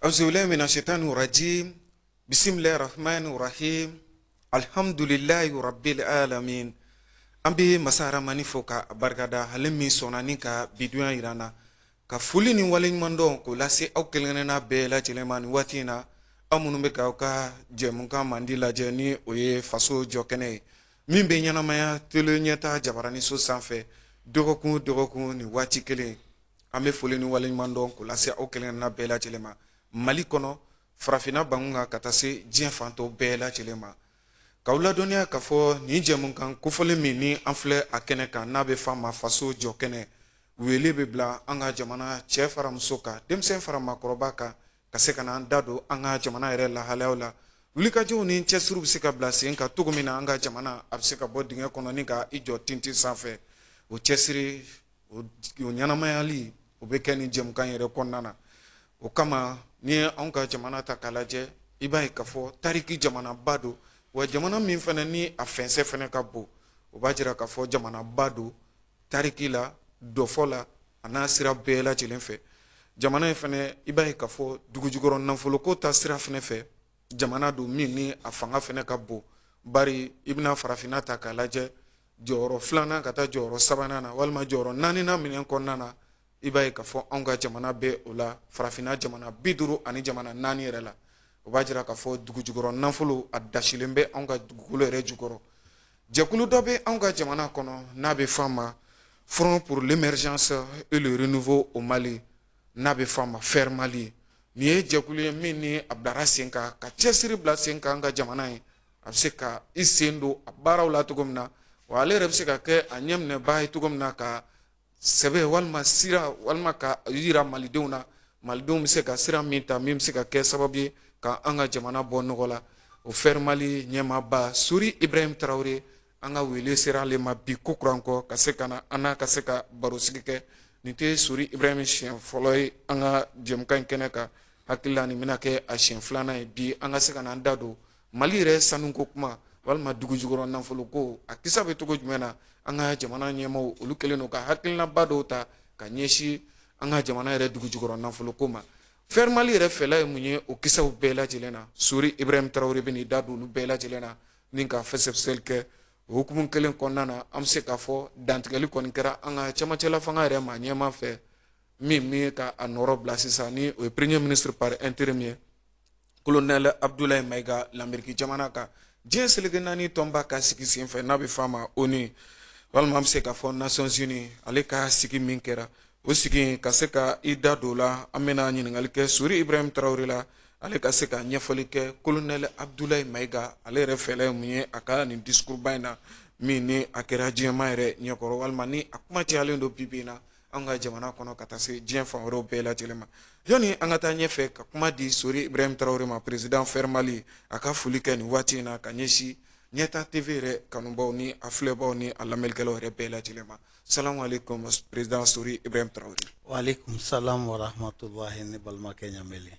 auzubillahi mina shaitani rajim bisimilahi rahmani rahim alhamdulilayi rabbil alamin an bɛ masa aramani fo k'a barika da ale min sɔnna ni ka bidunya yira an na ka foli ni waleɲumandɔn k'o lase aw kelenkelenna bɛɛ lajɛlen ma nin waati in na aw minnu bɛ ka aw ka jɛmukan mandi lajɛ ni o ye faso jɔkɛnɛ ye min bɛ ɲɛnamaya tele ɲɛta jabaraniso sanfɛ dɔgɔkun dɔgɔkun nin waati kelen an bɛ foli ni waleɲumandɔn k'o lase aw kelenkelen bɛɛ lajɛlen ma mali kɔnɔ farafinna bangun kan ka taa se diɲɛ fan tɔ bɛɛ lajɛlen ma k'aw ladɔnniya k'a fɔ nin jɛmukan kofɔlen min ni an filɛ a kɛnɛ kan n'a bɛ f'a ma faso jɔkɛnɛ wele bɛ bila an ka jamana cɛ fara muso kan denmisɛn fara maakɔrɔba kan ka se ka na an da don an ka jamana yɛrɛ lahalayaw la wulikajɔw ni cɛsiriw bɛ se ka bila sen kan cogo min na an ka jamana a bɛ se ka bɔ dingɛ kɔnɔ ni ka i jɔ tintin sanfɛ o cɛsiri o ɲɛnamayali o bɛ kɛ nin jɛmukan yɛrɛ kɔnɔna na o kama n'i ye anw ka jamana ta k'a lajɛ i b'a ye k'a fɔ tariki jamanaba don wa jamana min fana ni a fɛnsɛ fana ka bon o b'a jira k'a fɔ jamanaba don tariki la dɔfɔ la a n'a sira bɛɛ lajɛlen fɛ jamana in fana i b'a ye k'a fɔ dugujukɔrɔ nafoloko ta sira fana fɛ jamana don min ni a fanga fana ka bon bari i bɛna farafinna ta k'a lajɛ jɔyɔrɔ filanan ka taa jɔyɔrɔ sabanan na walima jɔyɔrɔ naaninan minɛn kɔnɔna na i b'a ye k'a fɔ anw ka jamana bɛ o la farafinna jamana bi duuru ani jamana naani yɛrɛ la o b'a jira k'a fɔ dugujukɔrɔ nafolo a dasilen bɛ anw ka dugukolo yɛrɛ jukɔrɔ Jɛkulu dɔ bɛ anw ka jamana kɔnɔ n'a bɛ fɔ a ma Front pour l'émergence et le renouveau au Mali n'a bɛ fɔ a ma FER Mali nin ye jɛkulu ye min ni a bilara sen kan ka cɛsiri bila sen kan an ka jamana ye a bɛ se ka i sen don a baaraw la cogo min na wa ale yɛrɛ bɛ se ka kɛ a ɲɛminɛbaa ye cogo min na ka sɛbɛ walima sira walima ka yira malidenw na malidenw bɛ se ka sira min ta min bɛ se ka kɛ sababu ye ka an ka jamana bɔ nɔgɔ la o FER Mali ɲɛmaaba sori ibrahim tarawele an ka wele sera ale ma bi kokura kɔ ka se ka na an n'a ka se ka barosigi kɛ nin tɛ sori ibrahim siɲɛ fɔlɔ ye an ka jɛmukan in kɛnɛ kan n hakili la nin bɛna kɛ a siɲɛ filanan ye bi an ka se ka na an da don mali yɛrɛ sanuko kuma walima dugujukɔrɔ nafoloko a kisa bɛ cogo jumɛn na an ka jamana ɲɛmaaw olu kɛlen don ka hakilinaba dɔw ta ka ɲɛsin an ka jamana yɛrɛ dugujukɔrɔ nafoloko ma FER Mali yɛrɛ fɛla ye mun ye o kisaw bɛɛ lajɛlen na sori ibrahim tarawele bɛna i da don olu bɛɛ lajɛlen na ni ka fɛsɛfɛsɛli kɛ o hukumu kelen kɔnɔna na an bɛ se k'a fɔ dantigɛli kɔni kɛra an ka cɛmancɛla fanga yɛrɛ ma ɲɛmaa fɛ min min ka a nɔrɔ bila sisan ni o ye premier ministre par intérim ye kolonɛlɛ abudulayi mayiga lameriki jamana kan diɲɛ seleke naani tɔnba ka sigi senfɛ n'a bɛ fɔ a ma onu walima an bɛ se k'a fɔ nations unies ale ka sigi min kɛra o sigi ka se ka i da don o la an bɛna ɲininkali kɛ sori ibrahim tarawele la ale ka se ka ɲɛfɔli kɛ kolonɛlɛ abudulayi mayiga ale yɛrɛ fɛla ye mun ye a ka nin disikuruba in na min ni a kɛra diɲɛmaa yɛrɛ ɲɛkɔrɔ walima ni a kuma cayalen don bi bi in na an ka jamana kɔnɔ ka taa se diɲɛ fan wɛrɛw bɛɛ lajɛlen ma yanni an ka taa ɲɛfɛ ka kuma di sori ibrahim tarawele ma perezidan fɛrɛ mali a ka foli kɛ nin waati in na ka ɲɛsin ɲɛtaa tv yɛrɛ kanubaw ni a filɛbaw ni a lamɛnnikɛlaw yɛrɛ bɛɛ lajɛlen ma salamu aleykum perezidan sori ibrahim tarawele waaleykum salam warahmatulahi ne balimakɛ ɲamɛlen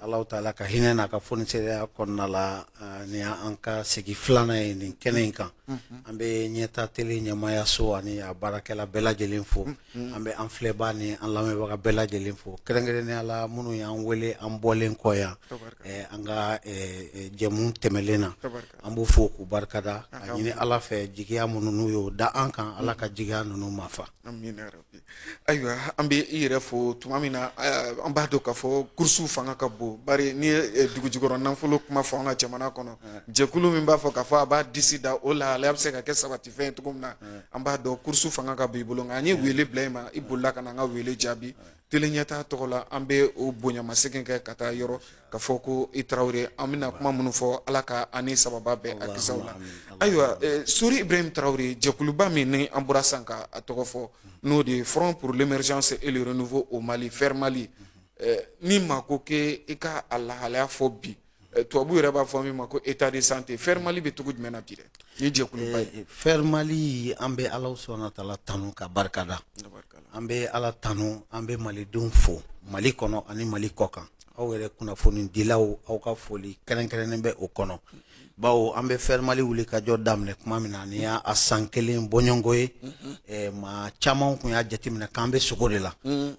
Alahu taala ka hinɛ n'a ka fonisireya kɔnɔna la ni an ka segin filanan ye nin kɛnɛ in kan an bɛ ɲɛtaa tele ɲɛmaayaso ani a baarakɛla bɛɛ lajɛlen fo an bɛ an filɛbaa ni an lamɛnbaga bɛɛ lajɛlen fo kɛrɛnkɛrɛnnenya la minnu y'an wele an bɔlen kɔ yan an ka jɛmu tɛmɛlen na an b'u fo k'u barikada ka ɲini ala fɛ jigiya minnu n'u y'o da an kan ala ka jigiya ninnu mafa ayiwa an bɛ i yɛrɛ fo tuma min na an b'a dɔn k'a fɔ kurusiw fanga ka bon bari n'i ye dugujukɔrɔ nafolo kuma fɔ an ka jamana kɔnɔ jɛkulu min b'a fɔ k'a fɔ a b'a disi da o la ale bɛ se ka kɛ sabatifɛn ye cogo min na an b'a dɔn kurusiw fanga ka bon i bolo nka an ye wele bila i ma i bolila ka na an ka wele jaabi tele ɲɛtaa tɔgɔ la an bɛ o bonyamasegin kɛ ka taa yɔrɔ k'a fɔ ko i tarawele an bɛna kuma minnu fɔ ala ka an ni sawaba bɛn a kisɛw la ayiwa sori ibrahim tarawele jɛkuluba min ni an bɔra san ka a tɔgɔ fɔ n'o de ye front pour l'émergence et le renouveau au mali fɛrɛ mali ni maa ko k'i ka a lahalaya fɔ bi tubabu yɛrɛ b'a fɔ min ma ko état de santé fɛrɛ mali bɛ cogo jumɛn na bi dɛ ni jɛkuluba ye fɛrɛ mali an bɛ ala subahana wa taala tanu k'a barikada an bɛ ala tanu an bɛ malidenw fo mali kɔnɔ ani mali kɔ kan aw yɛrɛ kunnafonidilaw aw ka foli kɛrɛnkɛrɛnnen bɛ o kɔnɔ bawo an bɛ fɛrɛ mali wuli ka jɔ daminɛ kuma min na nin y'a san kelen bɔɲɔgɔnko ye maa caman kun y'a jateminɛ k'an bɛ sugo de la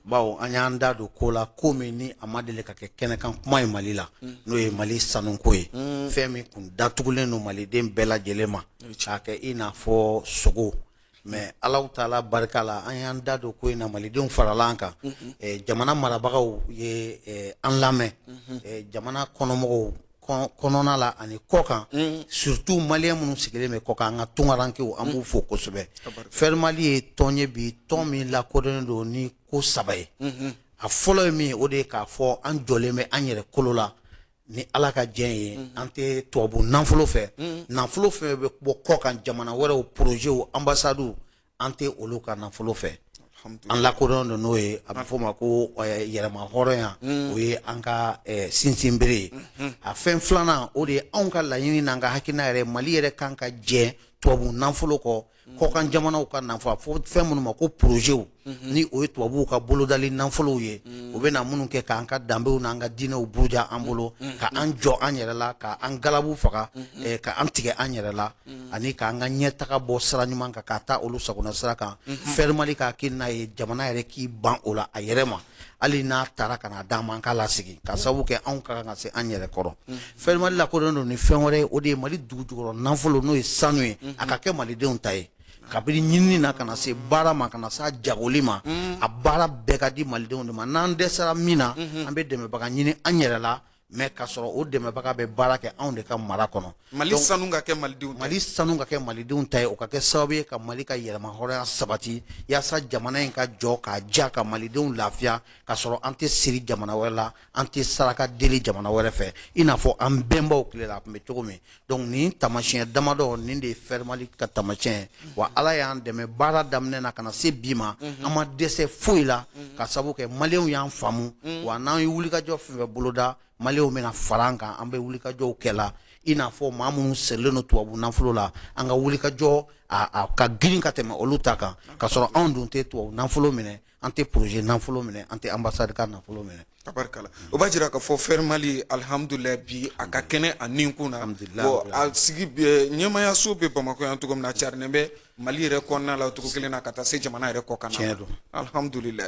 bawo an y'an da don ko la ko min ni a ma deli ka kɛ kɛnɛkan kuma ye mali la n'o ye mali sanuko ye fɛn min kun datugulen don maliden bɛɛ lajɛlen ma k'a kɛ i n'a fɔ sugo mais alahu taala barika la an y'an da don ko in na malidenw farala an kan eh, jamana marabagaw ye eh, an lamɛn eh, jamana kɔnɔmɔgɔw kɔn- kɔnɔna la ani kɔ kan surtout maliyɛn minnu sigilen bɛ kɔ kan an ka tungarankew an b'u fo kosɛbɛ fɛrɛ mali ye tɔn ye bi tɔn min lakodɔnnen don ni ko saba ye a fɔlɔ ye min ye o de ye k'a fɔ an jɔlen bɛ an yɛrɛ kolo la ni ala ka diɲɛ ye mhm. an tɛ tubabu nafolo fɛ mhm. nafolo fɛn bɛ bɔ kɔkan jamana wɛrɛw porozew anbasadiw an tɛ olu ka nafolo fɛ an lakodɔn don n'o ye a bɛ f'o ma ko eh, yɛrɛmahɔrɔnya mhm. o ye an ka eh, sinsinbere ye a fɛn filanan o de ye anw ka laɲini n'an ka hakilina yɛrɛ mali yɛrɛ kan ka jɛ tubabu nafolo kɔ kɔkan jamanaw ka n'an b'a fɔ fɛn minnu ma ko porozew mhm. ni o ye tubabuw ka bolodali nafolow ye mhm. u bɛna minnu kɛ k'an ka danbew n'an ka diinɛw buruja an bolo mhm. ka an jɔ an yɛrɛ la ka an galabu faga eh, ka an tigɛ an yɛrɛ la ani k'an ka ɲɛtaga bɔ sira ɲuman kan ka taa olu sagona sira kan fɛrimali ka hakilina ye jamana yɛrɛ k'i ban o la a yɛrɛ ma hali n'a taara ka na d'an ma an k'a lasegin ka sababu kɛ anw ka kan ka se an yɛrɛ kɔrɔ fɛrimali lakodɔnnen don ni fɛn wɛrɛ ye o de ye mali dugujukɔrɔ nafolo n'o ye sanu ye a ka kɛ malidenw ta ye kabini ɲinini na ka na se baara ma ka na se a jagoli ma a baara bɛɛ ka di malidenw de ma n'an dɛsɛra min na an bɛ dɛmɛbaga ɲini an yɛrɛ la mɛ ka sɔrɔ o dɛmɛbaga bɛ baara kɛ anw de ka mara kɔnɔ mali sanu ka kɛ malidenw mali sanu ka kɛ malidenw ta ye o ka kɛ sababu ye ka mali ka yɛrɛmahɔrɔnya sabati yaasa jamana in ka jɔ k'a ja ka malidenw lafiya ka sɔrɔ an tɛ siri jamana wɛrɛ la an tɛ saraka deli jamana wɛrɛ fɛ i n'a fɔ an bɛnbaw tile la a tun bɛ cogo min donc nin taamasiyɛn damadɔ nin de ye fɛrimali ka taamasiyɛn ye wa ala y'an dɛmɛ baara daminɛ na ka na se bi ma mhm. an ma dɛsɛ foyi la mhm. ka sabu kɛ maliyɛnw y'an faamu mhm. wa n'an ye wulikajɔ fɛn fɛn boloda maliyɛnw bɛna fara an kan an bɛ wulikajɔw kɛla i n'a fɔ maa minnu sirilen don tubabu nafolo la an ka wulikajɔ a ka girin ka tɛmɛ olu ta kan ka sɔrɔ anw dun tɛ tubabu nafolo minɛ an tɛ poroze nafolo minɛ an tɛ anbasadi ka nafolo minɛ tabarikala o b'a jira k'a fɔ fɛrimali alihamudulila bi a ka kɛnɛ a ni kun na a sigi ɲɛmayaso bɛ bamakɔ yan cogo min na a carinen bɛ mali yɛrɛ kɔnɔna la cogo kelen na ka taa se jamana yɛrɛ kɔkanna na alihamudulila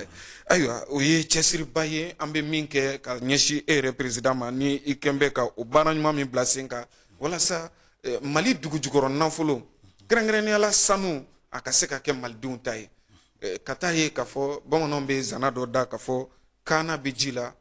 ayiwa o ye cɛsiriba ye an bɛ min kɛ ka ɲɛsin e yɛrɛ perezidan ma ni i kɛlen bɛ ka o baara ɲuman min bila sen kan walasa eh, mali dugujukɔrɔ nafolo kɛrɛnkɛrɛnnenya la sanu a ka se ka kɛ malidenw ta ye eh, ka taa ye k'a fɔ bamananw bɛ zana dɔ da k'a fɔ kaana bɛ ji la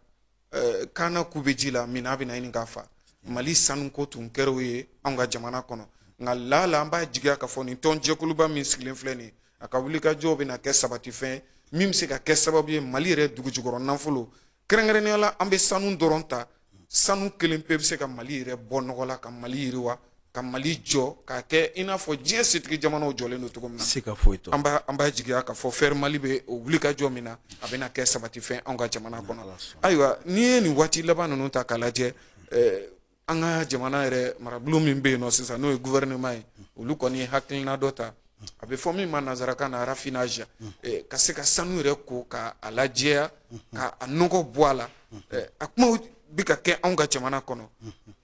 eh, kaana ku bɛ ji la minnɔgɔ bɛn'a ɲini k'a faa mali sanuko tun kɛr'o ye anw ka jamana kɔnɔ nka laala an b'a jigiya k'a fɔ nin tɔn jɛkuluba min sigilen filɛ nin a ka wulikajɔw bɛna kɛ sabatifɛn min bɛ se ka kɛ sababu ye mali yɛrɛ dugujukɔrɔ nafolo kɛrɛnkɛrɛnnenya la an bɛ sanu dɔrɔn ta sanu kelen pe bɛ se ka mali yɛrɛ bɔ nɔgɔ la ka mali yiriwa ka mali jɔ k'a kɛ i n'a fɔ diɲɛ setigi jamanaw jɔlen don cogo min na an b'a jigiya k'a fɔ fɛrimali bɛ o wulikajɔ min na a bɛna kɛ sabatifɛn anw ka jamana kɔnɔ ayiwa n'i ye nin waati laban ninnu ta k'a lajɛ eh, an ka jamana yɛrɛ marabolo min bɛ yen nɔ sisan n'o ye gouvernement ye olu kɔni ye hakilina dɔ ta a bɛ fɔ min ma nanzarakan na raffinage eh, ka se ka sanu yɛrɛ ko ka a lajɛya ka a nɔgɔ bɔ a la eh, a kumaw bɛ ka kɛ anw ka jamana kɔnɔ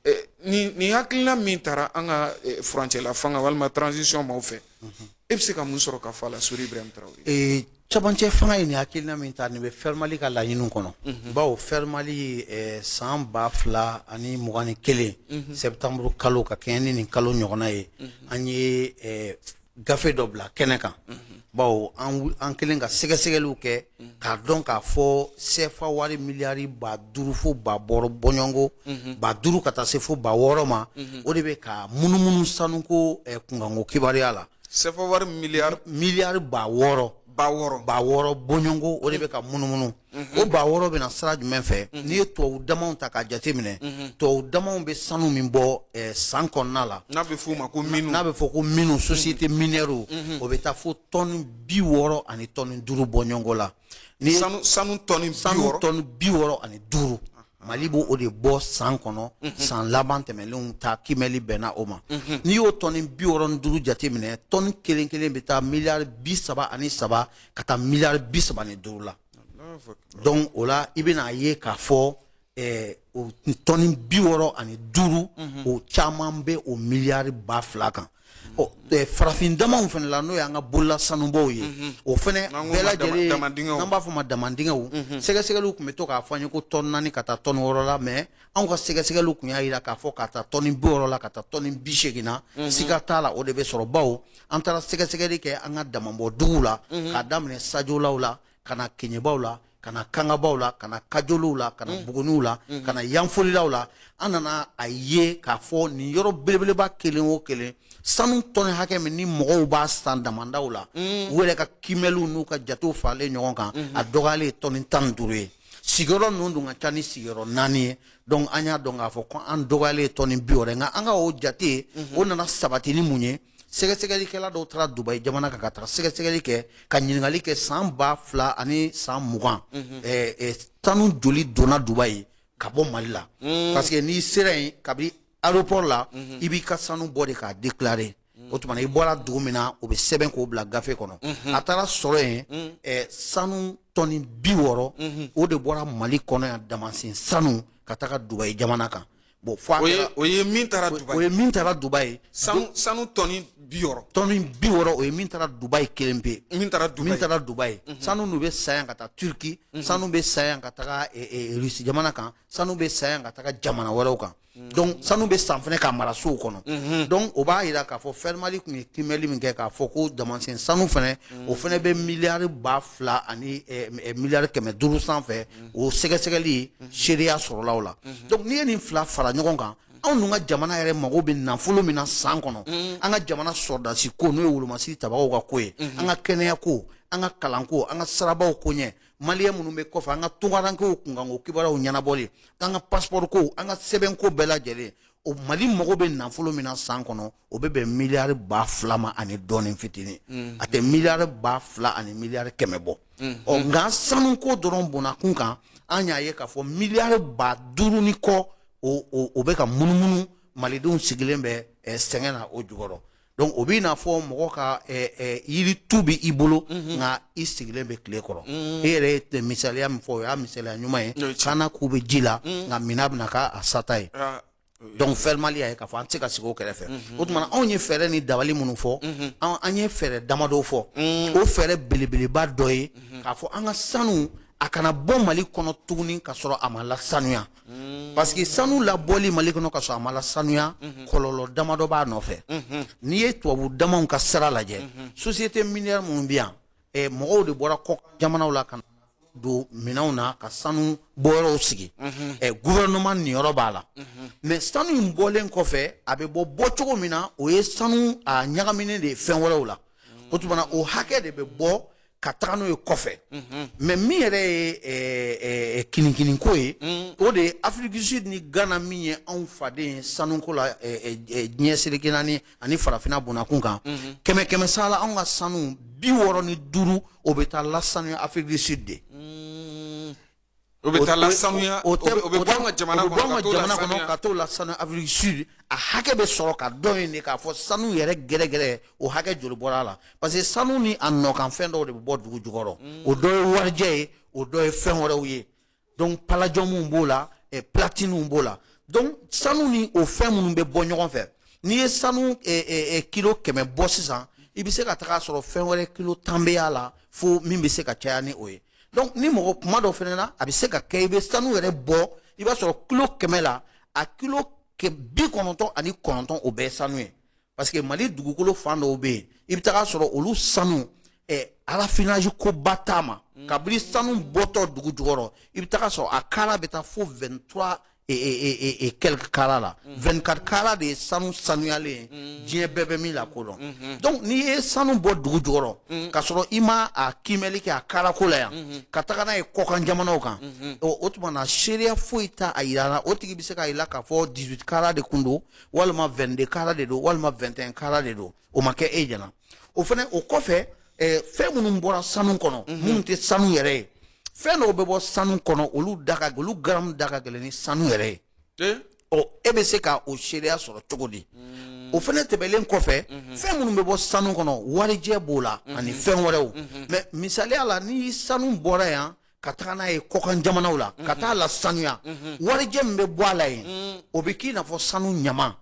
eh, nin nin hakilina min tara an ka furancɛla fanga walima transition maaw fɛ e bɛ se ka mun sɔrɔ ka fɔ a la sori ibrahim tarawele ee cɛmancɛ fanga ye nin hakilina min ta nin bɛ fɛrimali ka laɲiniw kɔnɔ mhm. bawo fɛrimali ye eh, san ba fila ani mugan ni kelen mhm. septembre kalo ka kɛɲɛ ni nin kalo ɲɔgɔnna ye mhm. an ye eh, gafe dɔ bila kɛnɛ kan bawo an kɛlen ka sɛgɛsɛgɛliw kɛ k'a dɔn k'a fɔ sefa wari miliyari ba duuru fo ba wɔɔrɔ bɔɲɔgɔnko mhm. ba duuru ka taa se fo ba wɔɔrɔ ma mhm. o de bɛ ka munumunu sanuko eh, kunkanko kibaruya la sefa wari miliyari miliyari ba wɔɔrɔ ba wɔɔrɔ ba wɔɔrɔ bɔɲɔgɔnko o de bɛ ka munumunu mhm. o ba wɔɔrɔ bɛ na sira jumɛn fɛ n'i ye tubabu damaw ta k'a jateminɛ tubabu damaw bɛ sanu min bɔ eh, san kɔnɔna la n'a bɛ f'o ma ko minu n'a bɛ fɔ ko minu société minière o bɛ taa fo tɔni bi wɔɔrɔ ani tɔni duuru bɔɲɔgɔnko la ni sanu sanu tɔni sanu tɔni bi wɔɔrɔ ani duuru mali b'o de bɔ san kɔnɔ mhm. san laban tɛmɛnlenw ta kimɛli bɛnna o ma mhm. n'i y'o tɔni bi wɔɔrɔ ni duuru jate minɛ tɔni kelen kelen bɛ taa miliyari bi saba ani saba ka taa miliyari bi saba ni duuru la donc o la i bɛna a ye k'a fɔ tɔni bi wɔɔrɔ ani duuru o caman bɛ o miliyari ba fila kan farafin damaw fana la n'o y'an ka bolola sanubɔw ye o fana bɛɛ lajɛlen n'an b'a fɔ ma damandingɛw sɛgɛsɛgɛliw tun bɛ to k'a fɔ an ye ko tɔni naani ka taa tɔni wɔɔrɔ la mais anw ka sɛgɛsɛgɛli tun y'a jira k'a fɔ ka taa tɔni bi wɔɔrɔ la ka taa tɔni bi seegin na siga t'a la o de bɛ sɔrɔ bawo an taara sɛgɛsɛgɛli kɛ an ka damabɔduguw la k'a daminɛ sajolaw la ka na kɛɲɛbaw la ka na kangabaw la ka na kajolow la ka na mm. buguniw la mm-hmm. ka na yanfolilaw la an nana a ye k'a fɔ nin yɔrɔ belebeleba kelen o kelen sanu tɔni hakɛ min ni mɔgɔw b'a san damandaw la mm. u yɛrɛ ka kimɛliw n'u ka jatew faralen ɲɔgɔn kan mm-hmm. a dɔgɔyalen ye tɔni tan ni duuru ye sigiyɔrɔ ninnu dun ka ca ni sigiyɔrɔ naani ye donc an y'a dɔn k'a fɔ ko a dɔgɔyalen ye tɔni bi wɔɔrɔ nka an ka o jate mm-hmm. o nana sabati ni mun ye sɛgɛsɛgɛlikɛla dɔw taara dubayi jamana kan ka taga sɛgɛsɛgɛli kɛ ka ɲininkali kɛ san ba fila ani san mugan mhm. eh, eh, sanu joli donna dubayi ka bɔ mali la mm. parce que n'i sera yen kabini aéroport la mhm. i b'i ka sanu bɔ de k'a déclarer mm. o tuma na i bɔra dugu min na o bɛ sɛbɛn k'o bila gafe kɔnɔ mhm. a taara sɔrɔ yen mm. eh, sanu tɔni bi wɔɔrɔ o de bɔra mali kɔnɔ yan damasen sanu ka taga dubayi jamana kan bon fo o ye min taara dubayi o ye min taara dubayi sanu sanu tɔni bi wɔɔrɔ tɔni bi wɔɔrɔ o ye min taara dubayi kelen pe min taara dubayi min taara dubayi mhm. sanu nu bɛ san yan ka taa turki mhm. sanu bɛ san yan ka taga e, e, rusi jamana kan sanu bɛ san yan ka taga jamana wɛrɛw kan mhm. donc sanu bɛ san fɛnɛ ka mara sow kɔnɔ donc o b'a yira k'a fɔ fɛrimali tun ye kiimɛli min kɛ k'a fɔ ko damansen sanu fɛnɛ o fɛnɛ bɛ miliyari ba fila ani e, miliyari kɛmɛ duuru sanfɛ o sɛgɛsɛgɛli seereya sɔrɔla o la donc n'i ye nin fila fara ɲɔgɔn kan anw dun ka jamana yɛrɛ mago bɛ nafolo min na san kɔnɔ an ka jamana sɔrɔdasi ko n'o ye wolomasiri tabagaw ka ko ye an ka kɛnɛya ko an ka kalanko an ka sirabaw ko ɲɛ maliyɛn minnu bɛ kɔfɛ an ka tungarankew kunkanko kibaruyaw ɲɛnabɔli an ka pasipɔriko an ka sɛbɛnko bɛɛ lajɛlen o mali mago bɛ nafolo min na san kɔnɔ o bɛ bɛn miliyari ba fila ma ani dɔɔnin fitinin mm-hmm. a tɛ miliyari ba fila ani miliyari kɛmɛ bɔ mm-hmm. ɔ nka sanuko dɔrɔn bɔnnakun kan an y'a ye k'a fɔ miliyari ba duuru ni kɔ o bɛ ka munumunu malidenw sigilen bɛ eh, sɛgɛn na o jukɔrɔ donc o b'i n'a fɔ mɔgɔ ka eh, eh, yiri tu bɛ i bolo mhm. nka i sigilen bɛ tile kɔrɔ mhm. e yɛrɛ ye misaliya min fɔ o y'a misaliya ɲuman ye kana ku bɛ ji la mhm. nka minnɔgɔ bɛna k'a sata ye ah. donc fɛrimali y'a ye k'a fɔ an tɛ se ka sigi o kɛrɛfɛ o tuma na anw ye fɛɛrɛ ni dabali minnu fɔ an ye fɛɛrɛ damadɔ fɔ o fɛɛrɛ belebeleba dɔ ye k'a fɔ an ka sanu a kana bɔ mali kɔnɔ tuguni ka sɔrɔ a ma lasanuya parce que sanu labɔli mali kɔnɔ ka sɔrɔ a ma lasanuya kɔlɔlɔ damadɔ b'a nɔfɛ n'i ye tubabu damanw ka sira lajɛ société minière minnu bɛ yan eh, mɔgɔw de bɔra kɔkan jamanaw la ka na don minɛnw na ka sanu bɔyɔrɔw sigi mhm. eh, gouvernement niyɔrɔ b'a la mhm. mais sanu in bɔlen kɔfɛ a bɛ bɔ bɔ cogo min na o ye sanu a ɲagaminen de ye fɛn wɛrɛw la mhm. o tuma na o hakɛ de bɛ bɔ ka taga n'o ye kɔfɛ mais min yɛrɛ ye eh, eh, kinikininko ye mm. o de ye afrique du sud ni ghana min ye anw faden ye sanuko la diɲɛ seleke naani ani farafina bɔnnakun kan mhm. kɛmɛ kɛmɛ sala anw ka sanu bi wɔɔrɔ ni duuru o bɛ taa lasanuya afrique du sud de mm. o bɛ taa lasanuya o bɛ bɔ an ka jamana kɔnɔ ka t'o lasanuya afrique du sud a hakɛ bɛ sɔrɔ ka dɔn yen de k'a fɔ sanu yɛrɛ gɛrɛgɛrɛ o hakɛ joli bɔra a la parce que sanu ni a nɔkanfɛn dɔw de bɛ bɔ dugu jukɔrɔ mm. o dɔ ye warijɛ ye o dɔ ye fɛn wɛrɛw ye donc palajɔmuw b'o la eh, platiniw b'o la donc sanu ni o fɛn minnu bɛ bɔ ɲɔgɔn fɛ n'i ye sanu eh, eh, eh, kilo kɛmɛ bɔ sisan i bɛ se ka taga sɔrɔ fɛn wɛrɛ kilo tan bɛ y'a la fo min bɛ se ka caya ni o ye donc ni mɔgɔ kuma dɔ fɛnɛ na a bɛ se ka kɛ i bɛ sanu yɛrɛ bɔ i b'a sɔrɔ kilo kɛmɛ la a kilo bi kɔnɔntɔn ani kɔnɔntɔn o bɛɛ ye sanu ye parce que mali dugukolo fan dɔw bɛ yen i bɛ taga sɔrɔ olu sanu eh, raffinage koba t'a ma mm. kabini sanu bɔtɔ dugu jukɔrɔ i bɛ taga sɔrɔ a kara bɛ taa fo 23 et, et, et, quelques kara la mm. 24 kara de ye sanu sanuyalen mm. diɲɛ bɛɛ bɛ min lakodɔn mm -hmm. donc n'i ye sanu bɔ dugu jukɔrɔ mm. ka sɔrɔ i ma a kimɛli kɛ a karako la yan mm -hmm. ka taga n'a ye kɔkan jamanaw kan mm -hmm. o, o tuma na seereya foyi t'a a yira la o tigi bɛ se k'a yira k'a fɔ 18 kara de kun don walima vɛnde kara de don walima vɛntɛn kara de don o ma kɛ e ɲɛna o fɛnɛ o kɔfɛ eh, fɛn minnu bɔra sanu kɔnɔ mhm. minnu tɛ sanu yɛrɛ ye fɛn dɔw bɛ bɔ sanu kɔnɔ olu da ka olu garamu da ka gɛlɛn ni sanu yɛrɛ ye eh? ɔ e bɛ se ka o seereya sɔrɔ cogo di mm. o fɛnɛ tɛmɛlen kɔfɛ mhm. fɛn minnu bɛ bɔ sanu kɔnɔ warijɛ b'o la mhm. ani fɛn wɛrɛw mɛ misaliya la ni sanu bɔra yan ka taga n'a ye kɔkan jamanaw la ka taa lasanuya warijɛ min bɛ bɔ a la yen o bɛ k'i n'a fɔ sanu ɲama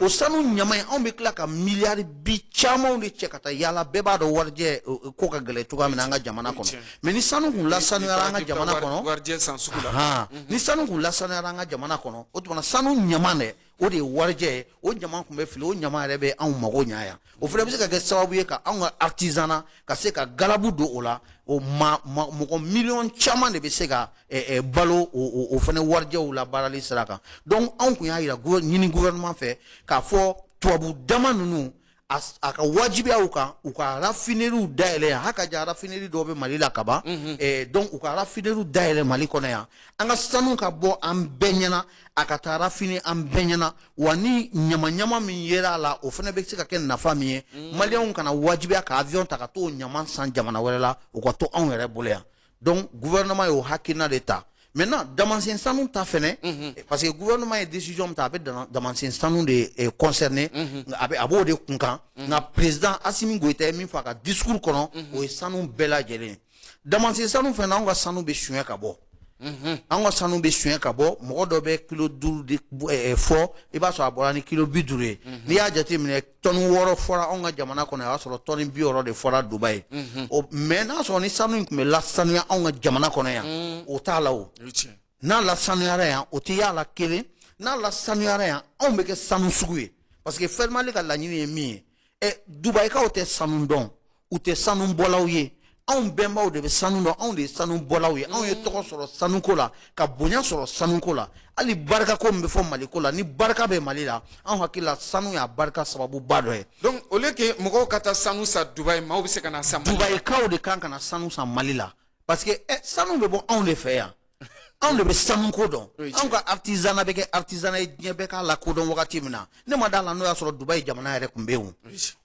o sanu ɲama in anw bɛ tila ka miliyari bi camanw de cɛ ka taa yaala bɛɛ b'a dɔn warijɛ ko ka gɛlɛn cogoya min na an ka jamana kɔnɔ mɛ ni sanu kun lasanuyara an ka jamana kɔnɔ ni sanu kun lasanuyara an ka jamana kɔnɔ o tuma sanu ɲama dɛ o de ye warijɛ ye o ɲama kun bɛ fili o ɲama yɛrɛ bɛ anw mago ɲa yan o fɛnɛ bɛ se ka kɛ sababu ye ka anw ka artisanat ka se ka galabu don o la o ma mɔgɔ miliyɔn caman de bɛ se ka eh, eh, balo o fɛnɛ warijɛw la baarali sira kan donc anw kun y'a yira ɲini gouvernement fɛ k'a fɔ tubabu daman ninnu a ka wajibiya u kan u ka rafineriw dayɛlɛ yan haka ja rafineri dɔw bɛ mali la kaban mhm. eh, donc u ka rafineriw dayɛlɛ mali kɔnɔ yan an ka sanu ka bɔ an bɛɛ ɲɛna a ka taa rafini an bɛɛ ɲɛna wa ni ɲamaɲama min yera a la o fɛnɛ bɛ se ka kɛ nafa min ye mhm. maliyɛnw kana wajibiya ka avion ta ka t'o ɲama san jamana wɛrɛ la u ka to anw yɛrɛ bolo yan donc gouvernement y'o hakilina de ta maintenant damansen sanu ta fɛnɛ mhm. eh, parce que gouvernement ye décision min ta a bɛ damansen sanu de eh, concerné mhm. a bɛ a b'o de kunkan mhm. nka président Assimi Goïta ye min fɔ a ka discours kɔnɔ o ye sanu bɛɛ lajɛlen ye damansen sanu fɛnɛ anw ka sanu bɛ suɲɛ ka bɔ an ka sanu bɛ suɲɛ ka bɔ mɔgɔ dɔ bɛ kilo duuru de eh, fɔ i b'a sɔrɔ a bɔra ni kilo bi duuru ye n'i y'a jateminɛ tɔni wɔɔrɔ fɔra anw ka jamana kɔnɔ yan y'a sɔrɔ tɔni bi wɔɔrɔ de fɔra dubayi mhm. mɛ n'a sɔrɔ ni sanu in tun bɛ lasanuya anw ka jamana kɔnɔ yan mhm. o t'a la o n'a lasanuyara yan o tɛ y'a la kelen n'a lasanuyara yan anw bɛ kɛ sanu sugu ye parce que fɛnmali ka laɲini ye min ye ɛ dubayikaw tɛ sanu dɔn u tɛ sanu bɔlaw ye anw bɛnbaw de bɛ sanu dɔn anw de ye sanu bɔlaw ye anw ye mm. tɔgɔ sɔrɔ sanuko la ka bonya sɔrɔ sanuko la hali barikako min bɛ fɔ maliko la ni barika bɛ mali la anw hakili la sanu y'a barika sababuba dɔ ye donc au lieu que mɔgɔw ka taa sanu san dubayi maaw bɛ se ka na san dubayikaw de kan ka na sanu san mali la parce que eh, sanu bɛ bɔ anw de fɛ yan anw de bɛ sanu ko dɔn anw ka artisanat bɛ kɛ artisanat ye diɲɛ bɛɛ k'a lakodɔn wagati min na ne ma d'a la n'o y'a sɔrɔ dubayi jamana yɛrɛ tun bɛ yen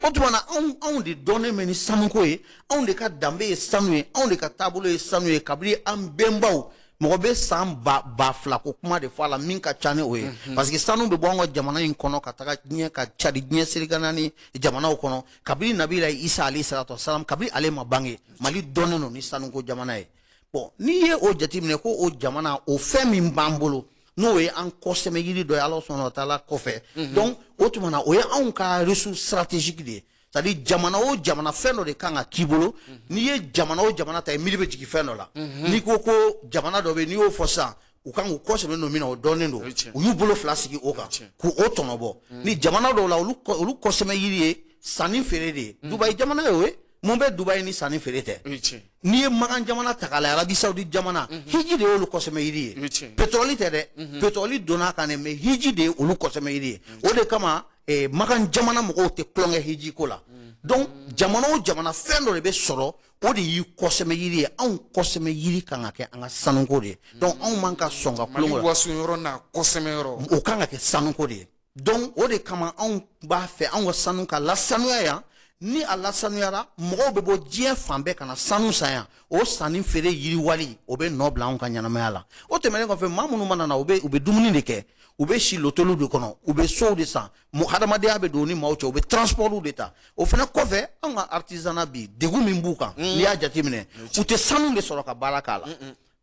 o tuma na anw anw de dɔnnen bɛ ni sanuko ye anw de ka danbe ye sanu ye anw de ka taabolo ye sanu ye kabini an bɛnbaw mɔgɔ bɛ san ba ba fila ko kuma de fɔ a la min ka ca ni o ye mhm. parce que sanu bɛ bɔ an ka jamana in kɔnɔ ka taga diɲɛ ka cari diɲɛ seleke naani jamanaw kɔnɔ kabini nabila isa alayhi salatu wasalam kabini ale ma bange mali dɔnnen don ni sanuko jamana ye bon n'i ye o jateminɛ ko o jamana o fɛn min b'an bolo n'o ye an kɔsɛmɛ yiri dɔ ye ala subahana wa taala kɔfɛ mhm. donc o tuma na o ye anw ka ressource stratégique de ye c'est à dire jamana o jamana fɛn dɔ de kan ka k'i bolo mhm. n'i ye jamana o jamana ta ye miiri bɛ jigin fɛn dɔ la mhm. n'i ko ko jamana dɔ bɛ n'i y'o fɔ sisan u kan k'u kɔsɛmɛ don min na o dɔnnen don u y'u bolo fila sigi o kan k'o tɔnɔbɔ ni jamana dɔw la olu kɔsɛmɛ yiri ye sanni feere de ye dubayi jamana ye o ye mun bɛ dubayi ni sanni feere tɛ n'i ye makan jamana ta k'a lajɛ arabi saudi jamana mhm. hiji de y'olu kɔsɛmɛ yiri ye petɔrɔli tɛ dɛ mhm. petɔrɔli donna a kan dɛ mais hiji de ye olu kɔsɛmɛ yiri ye o de kama eh, makan jamana mɔgɔw tɛ tulonkɛ hiji ko la mhm. donc jamana o jamana fɛn dɔ de bɛ sɔrɔ o de y'i kɔsɛmɛ yiri ye anw kɔsɛmɛ yiri kan ka kɛ an ka sanuko de ye donc anw man ka sɔn ka tulonkɛ mali waso yɔrɔ n'a kɔsɛmɛ yɔrɔ o kan ka kɛ sanuko de ye donc o de kama anw b'a fɛ anw ka sanu ka lasanuya yan ni a lasanuyara mɔgɔw bɛ bɔ diɲɛ fan bɛɛ ka na sanu san yan o sanni feere yiriwali o bɛ nɔ bila anw ka ɲɛnamaya la o tɛmɛnen kɔfɛ maa minnu mana na u bɛ u bɛ dumuni de kɛ u bɛ si lotɛliw de kɔnɔ u bɛ sow de san hadamadenya bɛ don u ni maaw cɛ u bɛ transportw de ta o fana kɔfɛ anw ka artisanat bi degun min b'u kan mm. n'i y'a jateminɛ u tɛ sanu de sɔrɔ ka baara k'a la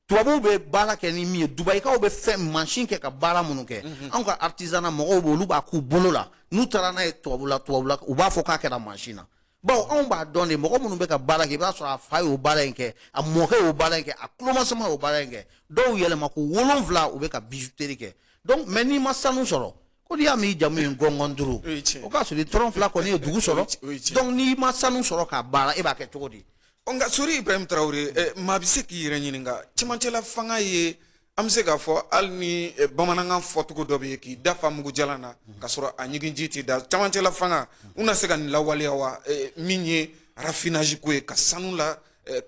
tubabuw bɛ baara kɛ ni min ye dubayikaw bɛ fɛn mansin kɛ ka baara minnu kɛ mhm. anw ka artisanat mɔgɔw b'olu b'a k'u bolo la n'u taara n'a ye tubabula tubabula u b'a fɔ k'a kɛra mansin na bawo anw b'a dɔn de mɔgɔ minnu bɛ ka baara kɛ i b'a sɔrɔ a fa y'o baara in kɛ a mɔkɛ y'o baara in kɛ a tulomasama y'o baara in kɛ dɔw yɛlɛma ko wolonwula u bɛ ka bijuteri kɛ donc mais n'i ma sanu sɔrɔ ko n'i y'a mɛn i jamu ye gɔngɔn duuru o k'a sɔrɔ i tɔrɔn fila kɔni ye dugu sɔrɔ donc n'i ma sanu sɔrɔ k'a baara e b'a kɛ cogo di nka sori ibrahim tarawele eh, maa bɛ se k'i yɛrɛ ɲininka cɛmancɛla fanga ye an bɛ se k'a fɔ hali ni eh, bamanankan fɔcogo dɔ bɛ yen k'i da fa mugujalan na ka sɔrɔ a ɲiginji t'i da cɛmancɛla fanga u na se ka nin lawaleya wa eh, min ye raffinage ko ye ka sanu la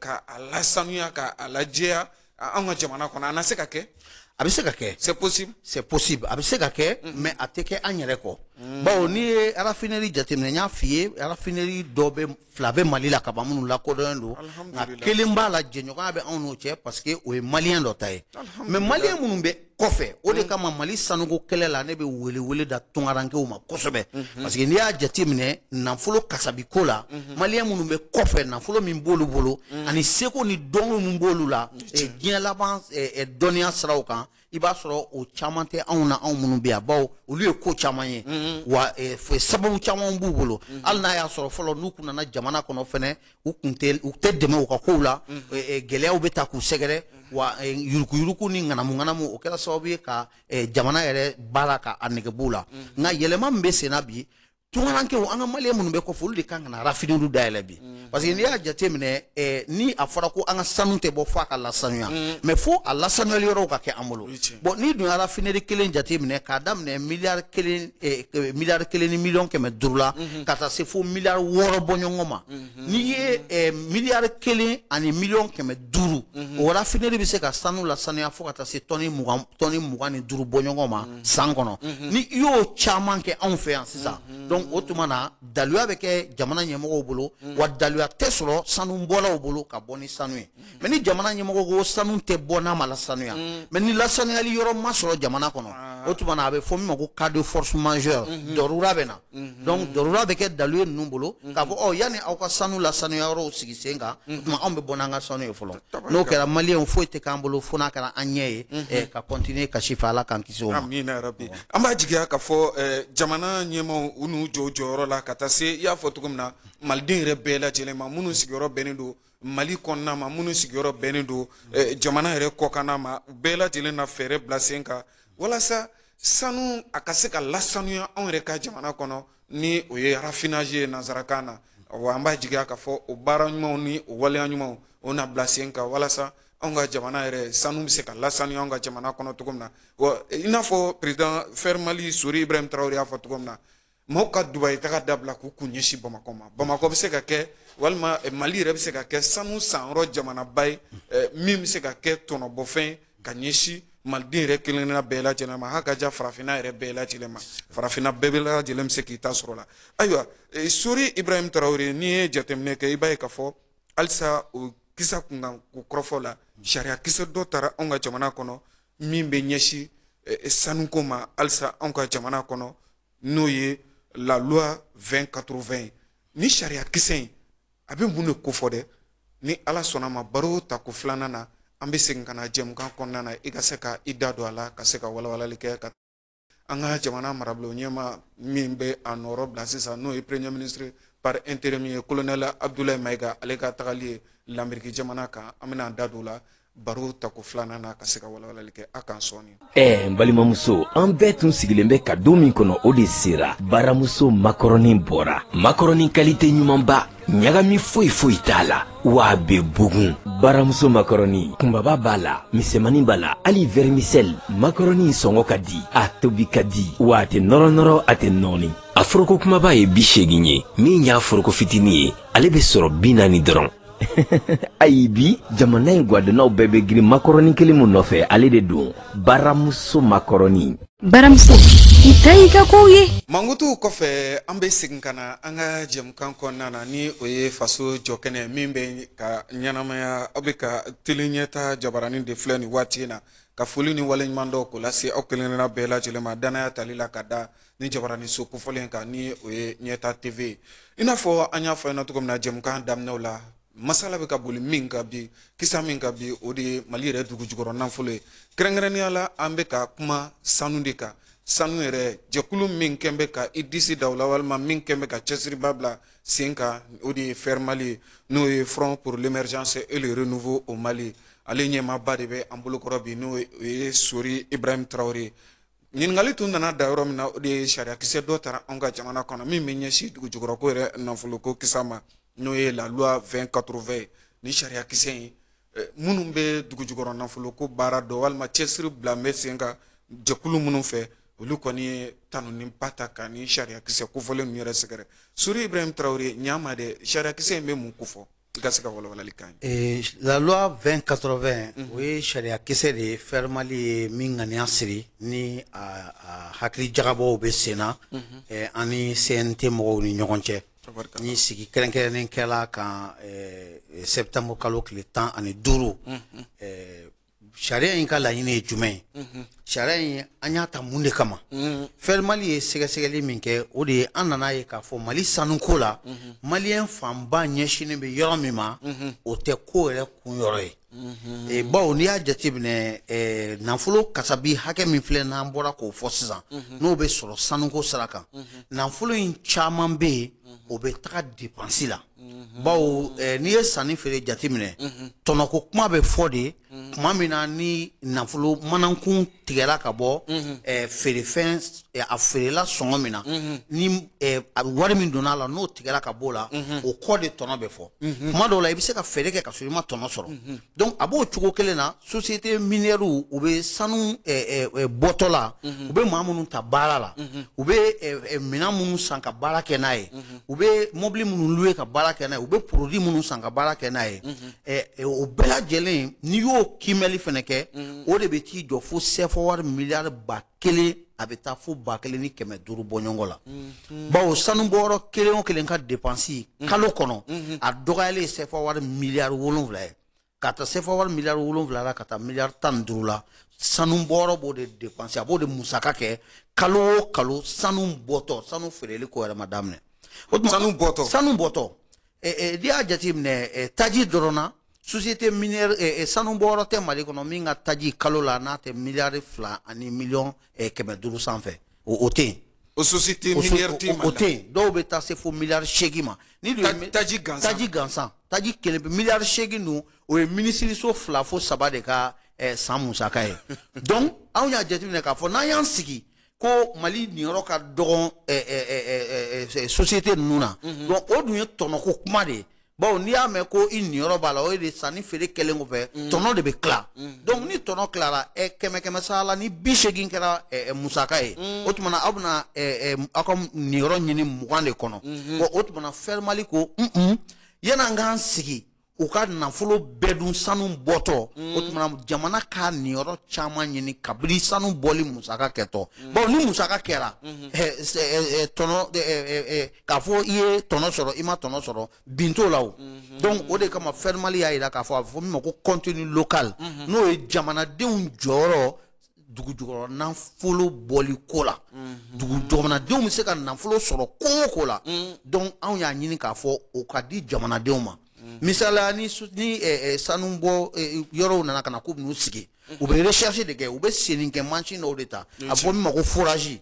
ka a lasanuya ka a lajɛya anw ka jamana kɔnɔ a na se ka kɛ a bɛ se ka kɛ c'est possible c'est possible a bɛ se ka kɛ mm-hmm. mais a tɛ kɛ an yɛrɛ kɔ mm. bawo n'i ye raffinerie jateminɛ n y'a f'i ye raffinerie dɔ bɛ fila bɛ mali la kaban minnu lakodɔnnen don nka kelen b'a la jɛɲɔgɔnya bɛ anw n'o cɛ parce que o ye maliyɛn dɔ ta ye mais maliyɛn minnu bɛ kɔfɛ o de kama mali sanuko kɛlɛ la ne bɛ welewele da tungarankew ma kosɛbɛ mhm. parce que n'i y'a jate minɛ nafolo kasabiko la mhm. maliyɛn minnu bɛ kɔfɛ nafolo min b'olu bolo mhm. ani seko ni dɔnko min b'olu la eh, diɲɛ laban eh, eh, dɔnniya siraw kan i b'a sɔrɔ o caman tɛ anw na anw minnu bɛ yan bawo olu ye ko caman ye wa sababu caman b'u bolo hali n'a y'a sɔrɔ fɔlɔ n'u kun nana jamana kɔnɔ fɛnɛ u kun tɛ u tɛ dɛmɛ u ka kow la gɛlɛyaw bɛ ta k'u sɛgɛrɛ wa yurukuyuruku ni ŋanamuŋanamu o kɛra sababu ye ka jamana yɛrɛ baara ka a nege b'u la nka yɛlɛma min bɛ senna bi tungarankew an ka maliyɛn minnu bɛ kɔfɛ olu de kan ka na raffineriew dayɛlɛ bi parce que n'i y'a jateminɛ ni a fɔra ko an ka sanu tɛ bɔ fo a ka lasanuya mais fo a lasanuyali yɔrɔw ka kɛ an bolo bon n'i dun ye raffinerie kelen jate minɛ k'a daminɛ miliyari kelen eh, eh, miliyari kelen ni miliyɔn kɛmɛ duuru la mhm. ka taa se fo miliyari wɔɔrɔ bɔɲɔgɔn ma mhm. n'i ye eh, miliyari kelen ani miliyɔn kɛmɛ duuru mhm. o raffinerie bɛ se ka sanu lasanuya fo ka taa se tɔni mugan tɔni mugan ni duuru bɔɲɔgɔn ma san kɔnɔ ni i y'o caman kɛ anw fɛ yan sisan donc o tuma na daluya bɛ kɛ jamana ɲɛmɔgɔw bolo wa daluya tɛ sɔrɔ sanu bɔlaw bolo ka bɔ ni sanu ye mais ni jamana ɲɛmɔgɔ ko sanu tɛ bɔ n'a ma lasanuya mm. mais ni lasanuyali yɔrɔ ma sɔrɔ jamana kɔnɔ ah. o tuma na a bɛ fɔ min ma ko cas de force majeure mm-hmm. dɔrura bɛ na mm-hmm. donc dɔrura bɛ kɛ dalu ye ninnu bolo mm-hmm. k'a fɔ ɔ yanni aw ka sanu lasanuya yɔrɔw sigi sen kan o tuma anw bɛ bɔ n'an ka sanu ye fɔlɔ n'o kɛra maliyɛnw foyi tɛ k'an bolo fo n'a kɛra an ɲɛ ye eh, ka continuer kasi fɛ ala k'an kisi o ma an b'a jigiya k'a fɔ eh, jamana ɲɛmaaw u n'u jɔ jɔyɔrɔ la ka taa se i y'a fɔ cogo min na maliden yɛrɛ bɛɛ lajɛlen ma minnu sigiyɔrɔ bɛnnen don mali kɔnɔna ma minnu sigiyɔrɔ bɛnnen don eh, jamana yɛrɛ kɔkanna ma u bɛɛ lajɛlen na fɛɛrɛ bila sen kan walasa sanu a ka se ka lasanuya anw yɛrɛ ka jamana kɔnɔ ni o ye raffinage ye nansarakan na wa an b'a jigiya k'a fɔ o baara ɲumanw ni o waleya ɲumanw o na bila sen kan walasa anw ka jamana yɛrɛ sanu bɛ se ka lasanuya anw ka jamana kɔnɔ cogo min na wa i n'a fɔ président fer mali sori ibrahim tarawele y'a fɔ cogo min na maaw ka dubayi taga dabila k'u kun ɲɛsin bamakɔ ma bamakɔ bɛ se ka kɛ walima eh, mali yɛrɛ bɛ se ka kɛ sanu sanyɔrɔ jamanaba ye eh, min bɛ se ka kɛ tɔnɔbɔfɛn ka ɲɛsin maliden yɛrɛ kelenkelenna bɛɛ lajɛlen ma ha ka ja farafinna yɛrɛ bɛɛ lajɛlen ma farafinna bɛɛ bɛ lajɛlen bɛ se k'i ta sɔrɔ la ayiwa eh, sori ibrahim tarawele n'i ye jateminɛ kɛ i b'a ye k'a fɔ halisa o kisa kunkanko kɔrɔfɔ la sariya kisɛ dɔ tara anw ka jamana kɔnɔ min bɛ ɲɛsin sanuko ma halisa anw ka jamana kɔnɔ n'o ye la loi 2080 ye ni sariya kisɛ in a bɛ mun de kofɔ dɛ ni ala sɔnna ma baro tako filanan na an bɛ segin ka na jɛmukan kɔnɔna na i ka se ka i da don a la ka se ka walawalali kɛ ka an ka jamana marabolo ɲɛmaa min bɛ a nɔrɔ bila sisan n'o ye premier ministre par intérim ye colonel abdoulaye mayiga ale ka tagali ye lamɛriki jamana kan an bɛna an da don o la baro ta ko filanan na ka se ka walawalali kɛ a kan sɔɔni ɛɛ n balimamuso an bɛɛ tun sigilen bɛ ka don min kɔnɔ o de sera baramuso makɔrɔni bɔra makɔrɔni kalite ɲumanba ɲagami foyi foyi t'a la wa a bɛ bugun baramuso makɔrɔni kunbaba b'a la misɛmani b'a la hali vɛrimisɛli makɔrɔni sɔngɔ ka di a tobi ka di wa a tɛ nɔrɔnɔrɔ a tɛ nɔɔni a foroko kumaba ye bi seegin ye min y'a foroko fitinin ye ale bɛ sɔrɔ bi naani dɔrɔn ayi bi jamana in gwadonnaw bɛɛ bɛ girin makɔrɔni kelen min nɔfɛ ale de don baramuso makɔrɔni baramuso i ta y'i ka kow ye mankutuw kɔfɛ an bɛ segin ka na an ka jɛmukan kɔnɔna na ni o ye faso jɔkɛnɛ min bɛ ka ɲɛnamaya aw bɛ ka tele ɲɛta jabaranin de filɛ nin waati in na ka foli ni waleɲumandɔn k'o lase aw kelenkelenna bɛɛ lajɛlen ma dannaya tali la ka da nin jabaraniso kofɔlen kan ni o ye ɲɛta tv ye i n'a fɔ an y'a fɔ ɲɛna cogo min na jɛmukan daminɛw la masala bɛ ka boli min kan bi kisa min kan bi o de ye mali yɛrɛ dugu jukɔrɔ nafolo ye kɛrɛnkɛrɛnnenya la an bɛ ka kuma sanu de kan sanu yɛrɛ jɛkulu min kɔni bɛ ka i disi da o la walima min kɔni bɛ ka cɛsiriba bila sen kan o de ye FER mali ye n'o ye front pour l'émergence et le renouveau au mali ale ɲɛmaaba de bɛ an bolokɔrɔ bi n'o ye sori ibrahim tarawele ɲininkali tun nana da yɔrɔ min na o de ye sariyakisɛ dɔ tara anw ka jamana kɔnɔ min bɛ ɲɛsin dugujukɔrɔko yɛrɛ nafoloko kisa ma n'o ye la loi 2080 ye nin sariyakisɛ in eh, minnu bɛ dugujukɔrɔ nafoloko baara dɔ walima cɛsiri bila bɛ sen kan jɛkulu minnu fɛ olu kɔni ye tanuniba ta ka nin sariyakisɛ kofɔlen ninnu yɛrɛ sɛgɛrɛ sori ibrahim tarawele ɲaama dɛ sariyakisɛ in bɛ mun kofɔ i ka se ka walawalali k'an ye la loi 2080 o ye sariya kisɛ de ye FER mali ye min ŋaniya siri ni a hakili jagabɔw bɛ sen na a ni CNT mɔgɔw ni ɲɔgɔn cɛ ni sigi kɛrɛnkɛrɛnnen kɛla a kan septembre kalo tile tan ani duuru sariya in ka laɲini ye jumɛn ye mhm. sariya in an y'a ta mun de kama mhm. FER mali ye sɛgɛsɛgɛli min kɛ o de ye an nana a ye k'a fɔ mali sanuko la mhm. maliyɛn fanba ɲɛsinnen bɛ yɔrɔ min ma o tɛ ko yɛrɛ kun yɔrɔ ye e, bawo n'i y'a jateminɛ e, nafolo kasabi hakɛ min filɛ n'an bɔra k'o fɔ sisan n'o bɛ sɔrɔ sanuko sira kan nafolo in caman bɛ yen o bɛ taga depansi la Mhm. bawo eh, n'i ye sanni feere jate minɛ mhm. tɔnɔko kuma bɛ fɔ de mhm. tuma min na ni nafolo manankun tigɛra ka bɔ eh, feerefɛn eh, a feerela sɔngɔ min na ni wari min donna a la n'o tigɛra ka bɔ o la o kɔ de tɔnɔ bɛ fɔ tuma dɔw la i bɛ se ka feere kɛ ka sɔrɔ i ma tɔnɔ sɔrɔ donc a b'o cogo kelen na société minière u bɛ sanu bɔtɔ la u bɛ maa minnu ta baara la u bɛ minɛn minnu san ka baara kɛ n'a ye u bɛ mobili minnu louer ka baara kɛ n'a ye u bɛ produit minnu san ka baara kɛ n'a ye o bɛɛ lajɛlen n'i y'o kiimɛli fana kɛ o de bɛ t'i jɔ fo sefa wari miliyari ba kelen a bɛ taa fo ba kelen ni kɛmɛ duuru bɔɲɔgɔn la mhm. bawo sanu bɔyɔrɔ kelen o kelen ka depansi mhm. kalo kɔnɔ mhm. a dɔgɔyalen ye sefa wari miliyari wolonwula ye ka taa sefa wari miliyari wolonwula la ka taa miliyari tan ni duuru la sanu bɔyɔrɔ b'o de depansi a b'o de musaka kɛ kalo o kalo sanu bɔtɔ sanu feereli ko yɛrɛ ma daminɛ o tuma sanu bɔtɔ sanu bɔtɔ n'i y'a jateminɛ taji dɔrɔn na société minière sanu bɔyɔrɔ tɛ mali kɔnɔ min ka taji kalo la n'a tɛ miliyari fila ani miliyɔn kɛmɛ duuru sanfɛ o tɛ yen o société minière tɛ o tɛ yen dɔw bɛ taa se fo miliyari seegin ma ni taji gansan taji gansan taji kelen pe miliyari seegin dun o ye minisiriso fila fo saba de ka san musaka ye donc anw y'a jateminɛ k'a fɔ n'an y'an sigi ko mali niyɔrɔ ka dɔgɔn eh, eh, eh, société ninnu na mhm. donc o dun ye tɔnɔko kuma de ye bawo n'i y'a mɛn ko i niyɔrɔ b'a la o ye de sanni feere kɛlen kɔfɛ mhm. tɔnɔ de bɛ tila mhm. donc ni tɔnɔ tilara kɛmɛ kɛmɛ sara la ni bi seegin kɛra musaka ye o tuma na aw bɛna aw ka niyɔrɔ ɲini mugan de kɔnɔ bon o tuma na fɛrimali ko un un yan'an k'an sigi u ka nafolo bɛɛ dun sanu bɔtɔ mm. o tuma na jamana k'a niyɔrɔ caman ɲini kabini sanu bɔli musaka kɛtɔ mm. bawo ni musaka kɛra mm-hmm. eh, eh, eh, tɔnɔ k'a fɔ i ye tɔnɔ sɔrɔ i ma tɔnɔ sɔrɔ bin t'o la o mm-hmm. donc o de kama fɛrimali y'a jira k'a fɔ a bɛ fɔ min ma ko contenu local mm-hmm. n'o ye jamanadenw jɔyɔrɔ dugu jukɔrɔ nafolo bɔli ko la mhm. dugu jamanadenw bɛ se ka nafolo sɔrɔ ko o ko la mhm. donc anw y'a ɲini k'a fɔ o ka di jamanadenw ma mhm. misaliya ni ni eh, eh, sanu bɔ eh, yɔrɔw nana ka na k'u bɛn'u sigi u bɛ recherche de kɛ u bɛ senni kɛ mansin dɔw de ta a fɔ min ma ko forage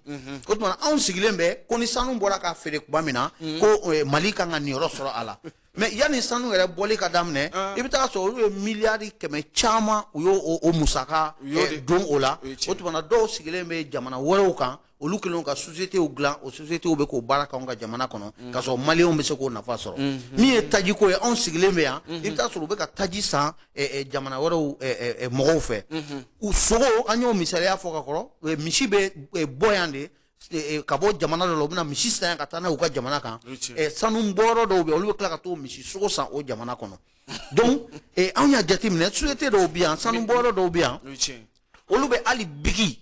o tuma anw sigilen bɛ ko ni sanu bɔra ka feere tuma min na ko mali kan ka niyɔrɔ sɔrɔ a la mais yanni sanu yɛrɛ bɔli ka daminɛ ah. i bɛ taa sɔrɔ olu ye miliyari kɛmɛ caman u y'o o musaka eh, don o la o tuma na dɔw sigilen bɛ jamana wɛrɛw kan olu kɛlen ka sociétéw dilan o sociétéw bɛ k'o baara k'anw ka jamana kɔnɔ mm. k'a sɔrɔ maliyɛnw bɛ se k'o nafa sɔrɔ mm, mm. min ye tajiko ye anw sigilen bɛ yan mm-hmm. i bɛ taa sɔrɔ u bɛ ka taji san eh, eh, jamana wɛrɛw mɔgɔw fɛ mm-hmm. u sogo an y'o misaliya fɔ ka kɔrɔ misi bɛ bɔ yan de eh, eh, ka bɔ jamana dɔ la u bɛna misi san yan ka taa n'a y'u ka jamana kan eh, sanu bɔyɔrɔ dɔw bɛ olu bɛ tila ka t'o misi sogo san o jamana kɔnɔ donc anw y'a jateminɛ société dɔw bɛ yan sanu bɔyɔrɔ dɔw bɛ yan olu bɛ hali bigi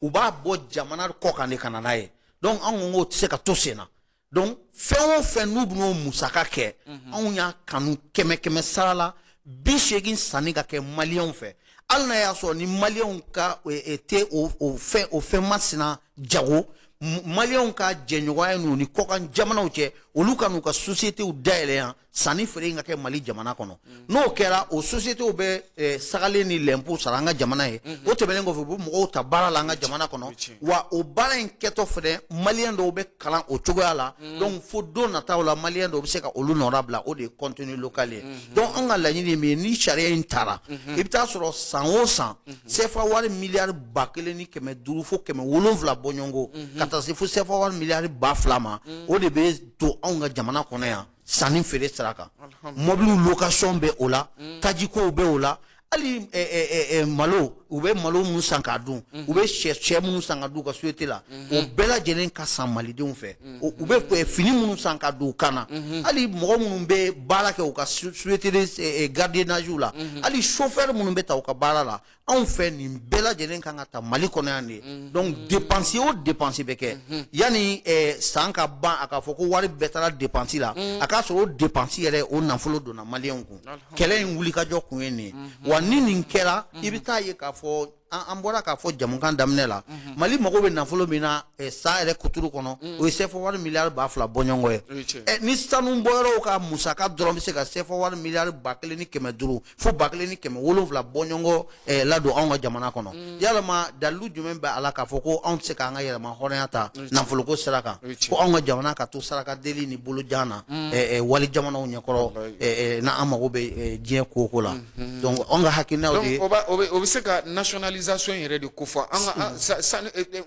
u b'a bɔ jamana kɔ kan de ka na n'a ye donc anw ko k'o tɛ se ka to sen na donc fɛn o fɛn n'u bɛn'o musaka kɛ mhm. anw y'a kanu kɛmɛ kɛmɛ sara la bi seegin sanni ka kɛ maliyɛnw fɛ hali n'a y'a sɔrɔ ni maliyɛnw ka eh, eh, tɛ o o fɛn o fɛn masina jago maliyɛnw ka jɛɲɔgɔnya ɲini u ni kɔkan jamanaw cɛ olu ka n'u ka sosiyetew dayɛlɛ yan sanni feere in ka kɛ mali jamana kɔnɔ n'o kɛra o sociétés bɛ eh, sagalen ni lɛnpu sara an ka jamana ye mhm. o tɛmɛnen kɔfɛ u bɛ mɔgɔw ta baara la an ka jamana kɔnɔ wa o baara in kɛtɔ fɛnɛ maliyɛn dɔw bɛ kalan o cogoya la mhm. donc fo don nataw la maliyɛn dɔw bɛ se ka olu nɔnabila o de ye contenu local ye mhm. donc an ka laɲini ye min ye ni sariya in tara i bɛ taa sɔrɔ san o san CFA wari miliyari ba kelen ni kɛmɛ duuru fo kɛmɛ wolonwula bɔɲɔgɔnko ka taa se fo CFA wari miliyari ba fila ma o de bɛ to anw ka jamana kɔnɔ yan sanni feere sira kan mɔbiliw location bɛ o la mm. tajikow bɛ o la hali eh, eh, eh, malo u bɛ malo minnu san k'a dun mm-hmm. u bɛ sɛ sɛ minnu san k'a dun u ka société la mm-hmm. o bɛɛ lajɛlen ka san malidenw fɛ mm-hmm. u bɛ fini minnu san ka don u kan na hali mɔgɔ minnu bɛ baara kɛ u ka société gardiennage la hali chauffeur minnu bɛ ta u ka baara la anw fɛ nin bɛɛ lajɛlen kan ka ta mali kɔnɔ yan de ye mhm. donc dépense o dépense bɛ kɛ mhm. yanni eh, san ka ban a ka fɔ ko wari bɛɛ taara dépense la mhm. a k'a sɔrɔ o dépense yɛrɛ o nafolo donna maliyɛnw kun kɛlɛ in wulikajɔ kun ye nin ye wa ni nin kɛra i bɛ taa ye k'a fɔ an bɔra k'a fɔ jɛmukan daminɛ la mali mago bɛ nafolo min na eh, san yɛrɛ kuturu kɔnɔ o ye CFA wari miliyari ba fila bɔɲɔgɔnko ye eh, ni sanu bɔyɔrɔw ka musaka dɔrɔn bɛ se ka CFA wari miliyari ba kelen ni kɛmɛ duuru fo ba kelen ni kɛmɛ wolonwula bɔɲɔgɔnko eh, ladon anw ka jamana kɔnɔ mm. yalama dalilu jumɛn bɛ a la k'a fɔ ko anw tɛ se k'an ka yɛrɛma hɔrɔnya ta nafoloko sira kan ko anw ka jamana ka to saraka deli ni bolojan na mm. eh, eh, wali jamanaw ɲɛkɔrɔ n'an mago bɛ diɲɛ ko o ko la mm-hmm. donc anw ka hakilinaw de ye o bɛ se ka nationalisation yɛrɛ de kofɔ an ka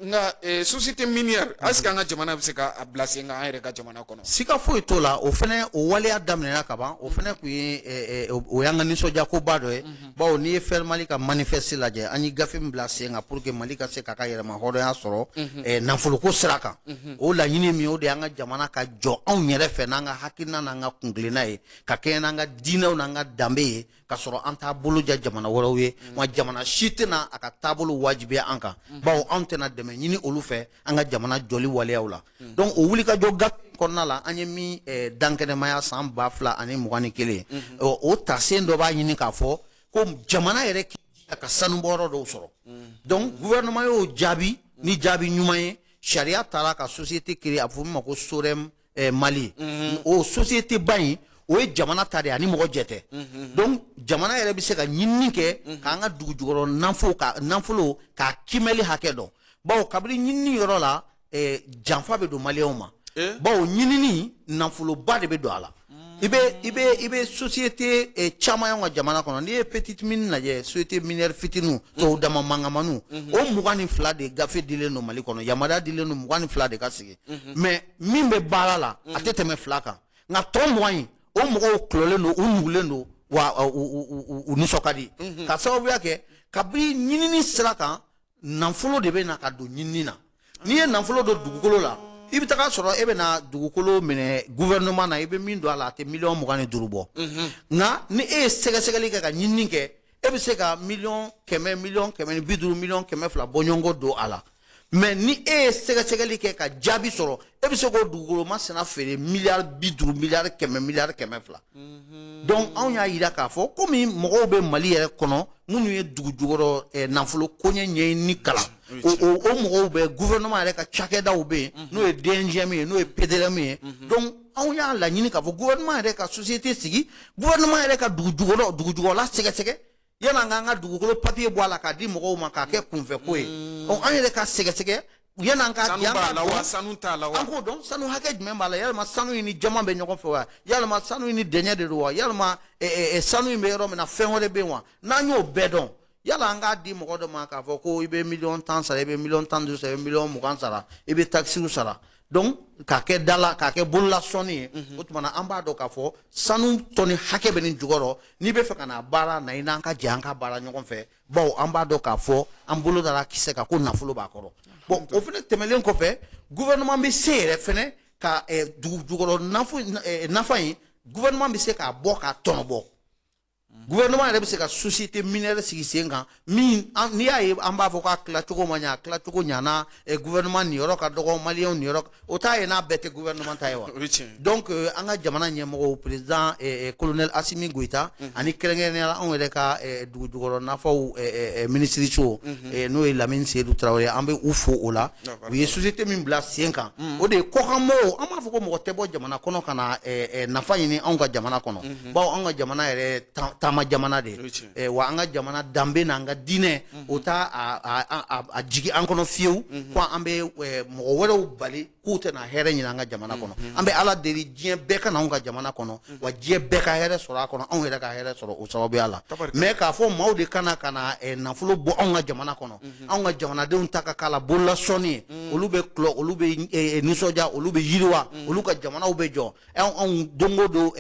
nka société minière est ce que an ka jamana bɛ se k'a bila sen kan an yɛrɛ ka jamana siga foyi t'o la o fɛnɛ o waleya daminɛna ka ban o fɛnɛ kun ye eh, eh, o y'an ka nisɔndiyakoba dɔ ye mhm. bawo n'i ye FER mali ka manifeste lajɛ an ye gafe min bila sen kan pour que mali ka se k'a ka yɛrɛma hɔrɔnya sɔrɔ mhm. eh, nafoloko sira kan mhm. o laɲini min o de y'an ka jamana ka jɔ anw yɛrɛ fɛ n'an ka hakilina n'an ka kuntilenna ye ka kɛɲɛ n'an ka diinɛw n'an ka danbe ye ka sɔrɔ an t'a bolo ja jamana wɛrɛw ye mm. wa jamana si tɛna a ka taabolo wajibiya an kan mm. bawo anw tɛna dɛmɛ ɲini olu fɛ an ka jamana jɔli waleyaw la mm. donc o wulikajɔ gafe kɔnɔna la an ye min eh, dankɛnɛmaya san ba fila ani mugan ni kelen mm-hmm. o tasen dɔ b'a ɲini k'a fɔ ko jamana yɛrɛ k'i jija ka sanubɔyɔrɔ dɔw sɔrɔ donc gouvernement y'o jaabi ni jaabi ɲuman ye sariya tara ka société créer a bɛ fɔ min ma ko SOREM eh, mali mhm. o société ba in o ye jamana ta de ani mɔgɔ jɛ tɛ mhm. donc jamana yɛrɛ bɛ se ka ɲinini kɛ mhm. k'an ka dugu jukɔrɔ nafolo ka nafolo k'a kimɛli hakɛ dɔn bawo kabini ɲinini yɔrɔ la eh, janfa bɛ don maliyɛnw ma eh? bawo ɲinini nafoloba de bɛ don a la mm. i bɛ i bɛ i bɛ société eh, caman y'anw ka jamana kɔnɔ n'i ye petite mine lajɛ société minière fitininw mm. tɔw dama mankanmaniw mm-hmm. o mugan ni fila de gafe dilen don mali kɔnɔ yamaruya dilen don mugan ni fila de ka sigi mm-hmm. mais min bɛ baara la a tɛ tɛmɛ fila kan nka tɔ mugan in o mɔgɔw tulɔlen don u nugulen don wa uh, u u- u- u- u nisɔn ka di Mhm. ka sababuya kɛ kabini ɲinini sira kan nafolo de bɛ na ka don ɲinini na n'i ye nafolo don dugukolo la i bɛ taga sɔrɔ e bɛ na dugukolo minɛ gouvernement na i bɛ min don a la a tɛ miliyɔn mugan ni duuru bɔ nka ni e ye sɛgɛsɛgɛli kɛ ka ɲinini kɛ e bɛ se ka miliyɔn kɛmɛ miliyɔn kɛmɛ ni bi duuru miliyɔn kɛmɛ fila bɔɲɔgɔn don a la mais ni e ye sɛgɛsɛgɛli kɛ ka jaabi sɔrɔ e bɛ se k'o dugukolo masina feere miliyari bi duuru miliyari kɛmɛ miliyari kɛmɛ fila mhm. donc anw y'a yira k'a fɔ komi mɔgɔw bɛ mali yɛrɛ kɔnɔ minnu ye dugu jukɔrɔ eh, nafolo koɲɛ ɲɛɲini kalan o o mɔgɔw bɛ gouvernement yɛrɛ ka cakɛdaw bɛ yen mhm. n'o ye dngm ye n'o ye pdrm ye mhm. donc anw y'a laɲini k'a fɔ gouvernement yɛrɛ ka société sigi gouvernement yɛrɛ ka dugu jukɔrɔ dugu jukɔrɔla sɛgɛsɛgɛ yanni an k'an ka dugukolo papier bɔ a la k'a di mɔgɔw ma k'a kɛ kunfɛ ko ye mm. ɔ an yɛrɛ ka sɛgɛsɛgɛ yanni an k'a di an k'a dɔn sanu t'a la wa an k'o dɔn sanu hakɛ jumɛn b'a la yalima sanu in ni jaman bɛ ɲɔgɔn fɛ wa yalima sanu in ni dɛɲɛ de don wa yalima eh, eh, eh, sanu in bɛ yɔrɔ min na fɛn wɛrɛ bɛ yen wa n'an y'o bɛɛ dɔn yanni an k'a di mɔgɔ dɔ ma k'a fɔ ko i bɛ miliyɔn tan sara i bɛ miliyɔn tan ni duuru sara i bɛ miliyɔn mugan sara i bɛ takisiw sara donc k'a kɛ dala k'a kɛ bolola sɔnni ye mhm. o tuma na an b'a dɔn k'a fɔ sanu tɔni hakɛ bɛ nin jukɔrɔ n'i bɛ fɛ ka na baara na i n'an ka jɛ an ka baara ɲɔgɔn fɛ bawo an b'a dɔn k'a fɔ an bolo dara kisɛ kan ko nafolo b'a kɔrɔ bon o fana tɛmɛnen kɔfɛ gouvernement bɛ se yɛrɛ fana ka eh, dugu jukɔrɔ eh, nafa in gouvernement bɛ se k'a bɔ k'a tɔnɔbɔ gouvernement yɛrɛ bɛ se ka société minière sigi sen kan min n'i y'a ye an b'a fɔ k'a tilacogo ma ɲa a tilacogo ɲana eh, gouvernement niyɔrɔ ka dɔgɔ maliyɛnw niyɔrɔ o t'a ye n'a bɛɛ tɛ gouvernement ta ye wa donc eh, an ka jamana ɲɛmɔgɔw président eh, colonel asimi goyita mhm. ani kɛrɛnkɛrɛnnenya la anw yɛrɛ ka dugu jukɔrɔ nafaw minisiri mhm. n'o ye lamini seyidu tarawele an bɛ u fo o la u ye société min bila sen kan mhm. o de ye kɔkanmɔgɔw an b'a fɔ ko mɔgɔ tɛ bɔ jamana kɔnɔ ka na nafa ɲini anw ka jamana kɔnɔ bawo an ka jamana yɛrɛ taama jamana de ye wa an ka jamana danbe n'an ka diinɛ o t'a jigin an kɔnɔ fiyewu ko an bɛ mɔgɔ wɛrɛw bali k'u tɛna hɛrɛ ɲini an ka jamana kɔnɔ an bɛ ala deli diɲɛ bɛɛ ka na anw ka jamana kɔnɔ wa diɲɛ bɛɛ ka hɛrɛ sɔrɔ a kɔnɔ anw yɛrɛ ka hɛrɛ sɔrɔ o sababuya la mais k'a fɔ maaw de ka na ka na nafolo bɔ anw ka jamana kɔnɔ anw ka jamanadenw ta ka k'a la bololasɔnni ye olu bɛ olu bɛ nisɔndiya olu bɛ yiriwa olu ka jamanaw bɛ jɔ anw don o don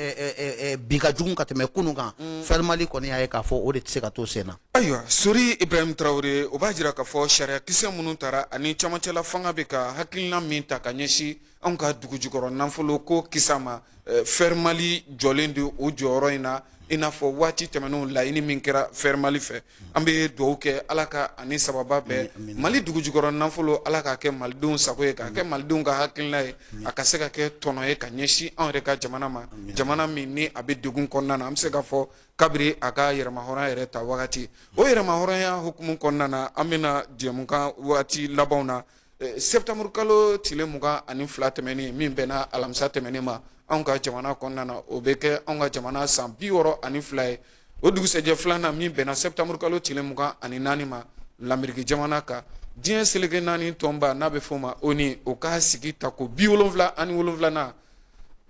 bi ka jugu ka tɛmɛ kunun kan mm. fɛrimali kɔni y'a ye k'a fɔ o de tɛ se ka to sen na ayiwa sori ibrahim tarawele o b'a jira k'a fɔ sariya kisɛ minnu tara ani camancɛla fanga bɛ ka hakilina min ta ka ɲɛsin anw ka dugujukɔrɔ nafolo ko kisa ma eh, fɛrimali jɔlen don o jɔyɔrɔ in na i n'a fɔ waati tɛmɛnenw laɲini min kɛra fɛrimali fɛ an bɛ dugawu kɛ ala ka an ni sababu bɛn mali dugujukɔrɔ nafolo ala k'a kɛ malidenw sago ye k'a kɛ malidenw ka hakilina ye a ka se ka kɛ tɔnɔ ye ka ɲɛsin anw yɛrɛ ka jamana ma jamana min ni a bɛ degun kɔnɔna na an bɛ se k'a fɔ kabiri a ka yɛrɛmahɔrɔnya yɛrɛ ta wagati o yɛrɛmahɔrɔnya hukumu kɔnɔna na an bɛna jɛmukan wagati labanw na eh, sɛtanburu kalo tile mugan ani fila tɛmɛnen min bɛnna alamisa tɛmɛnen ma anw ka jamana kɔnɔna na o bɛ kɛ anw ka jamana san bi wɔɔrɔ ani fila ye o dugusɛjɛ filanan min bɛnna sɛtanburu kalo tile mugan ani naani ma lameriki jamana kan diɲɛ seleke naani tɔnba n'a bɛ f'o ma ONU o ka sigi ta ko bi wolonwula ani wolonwulanan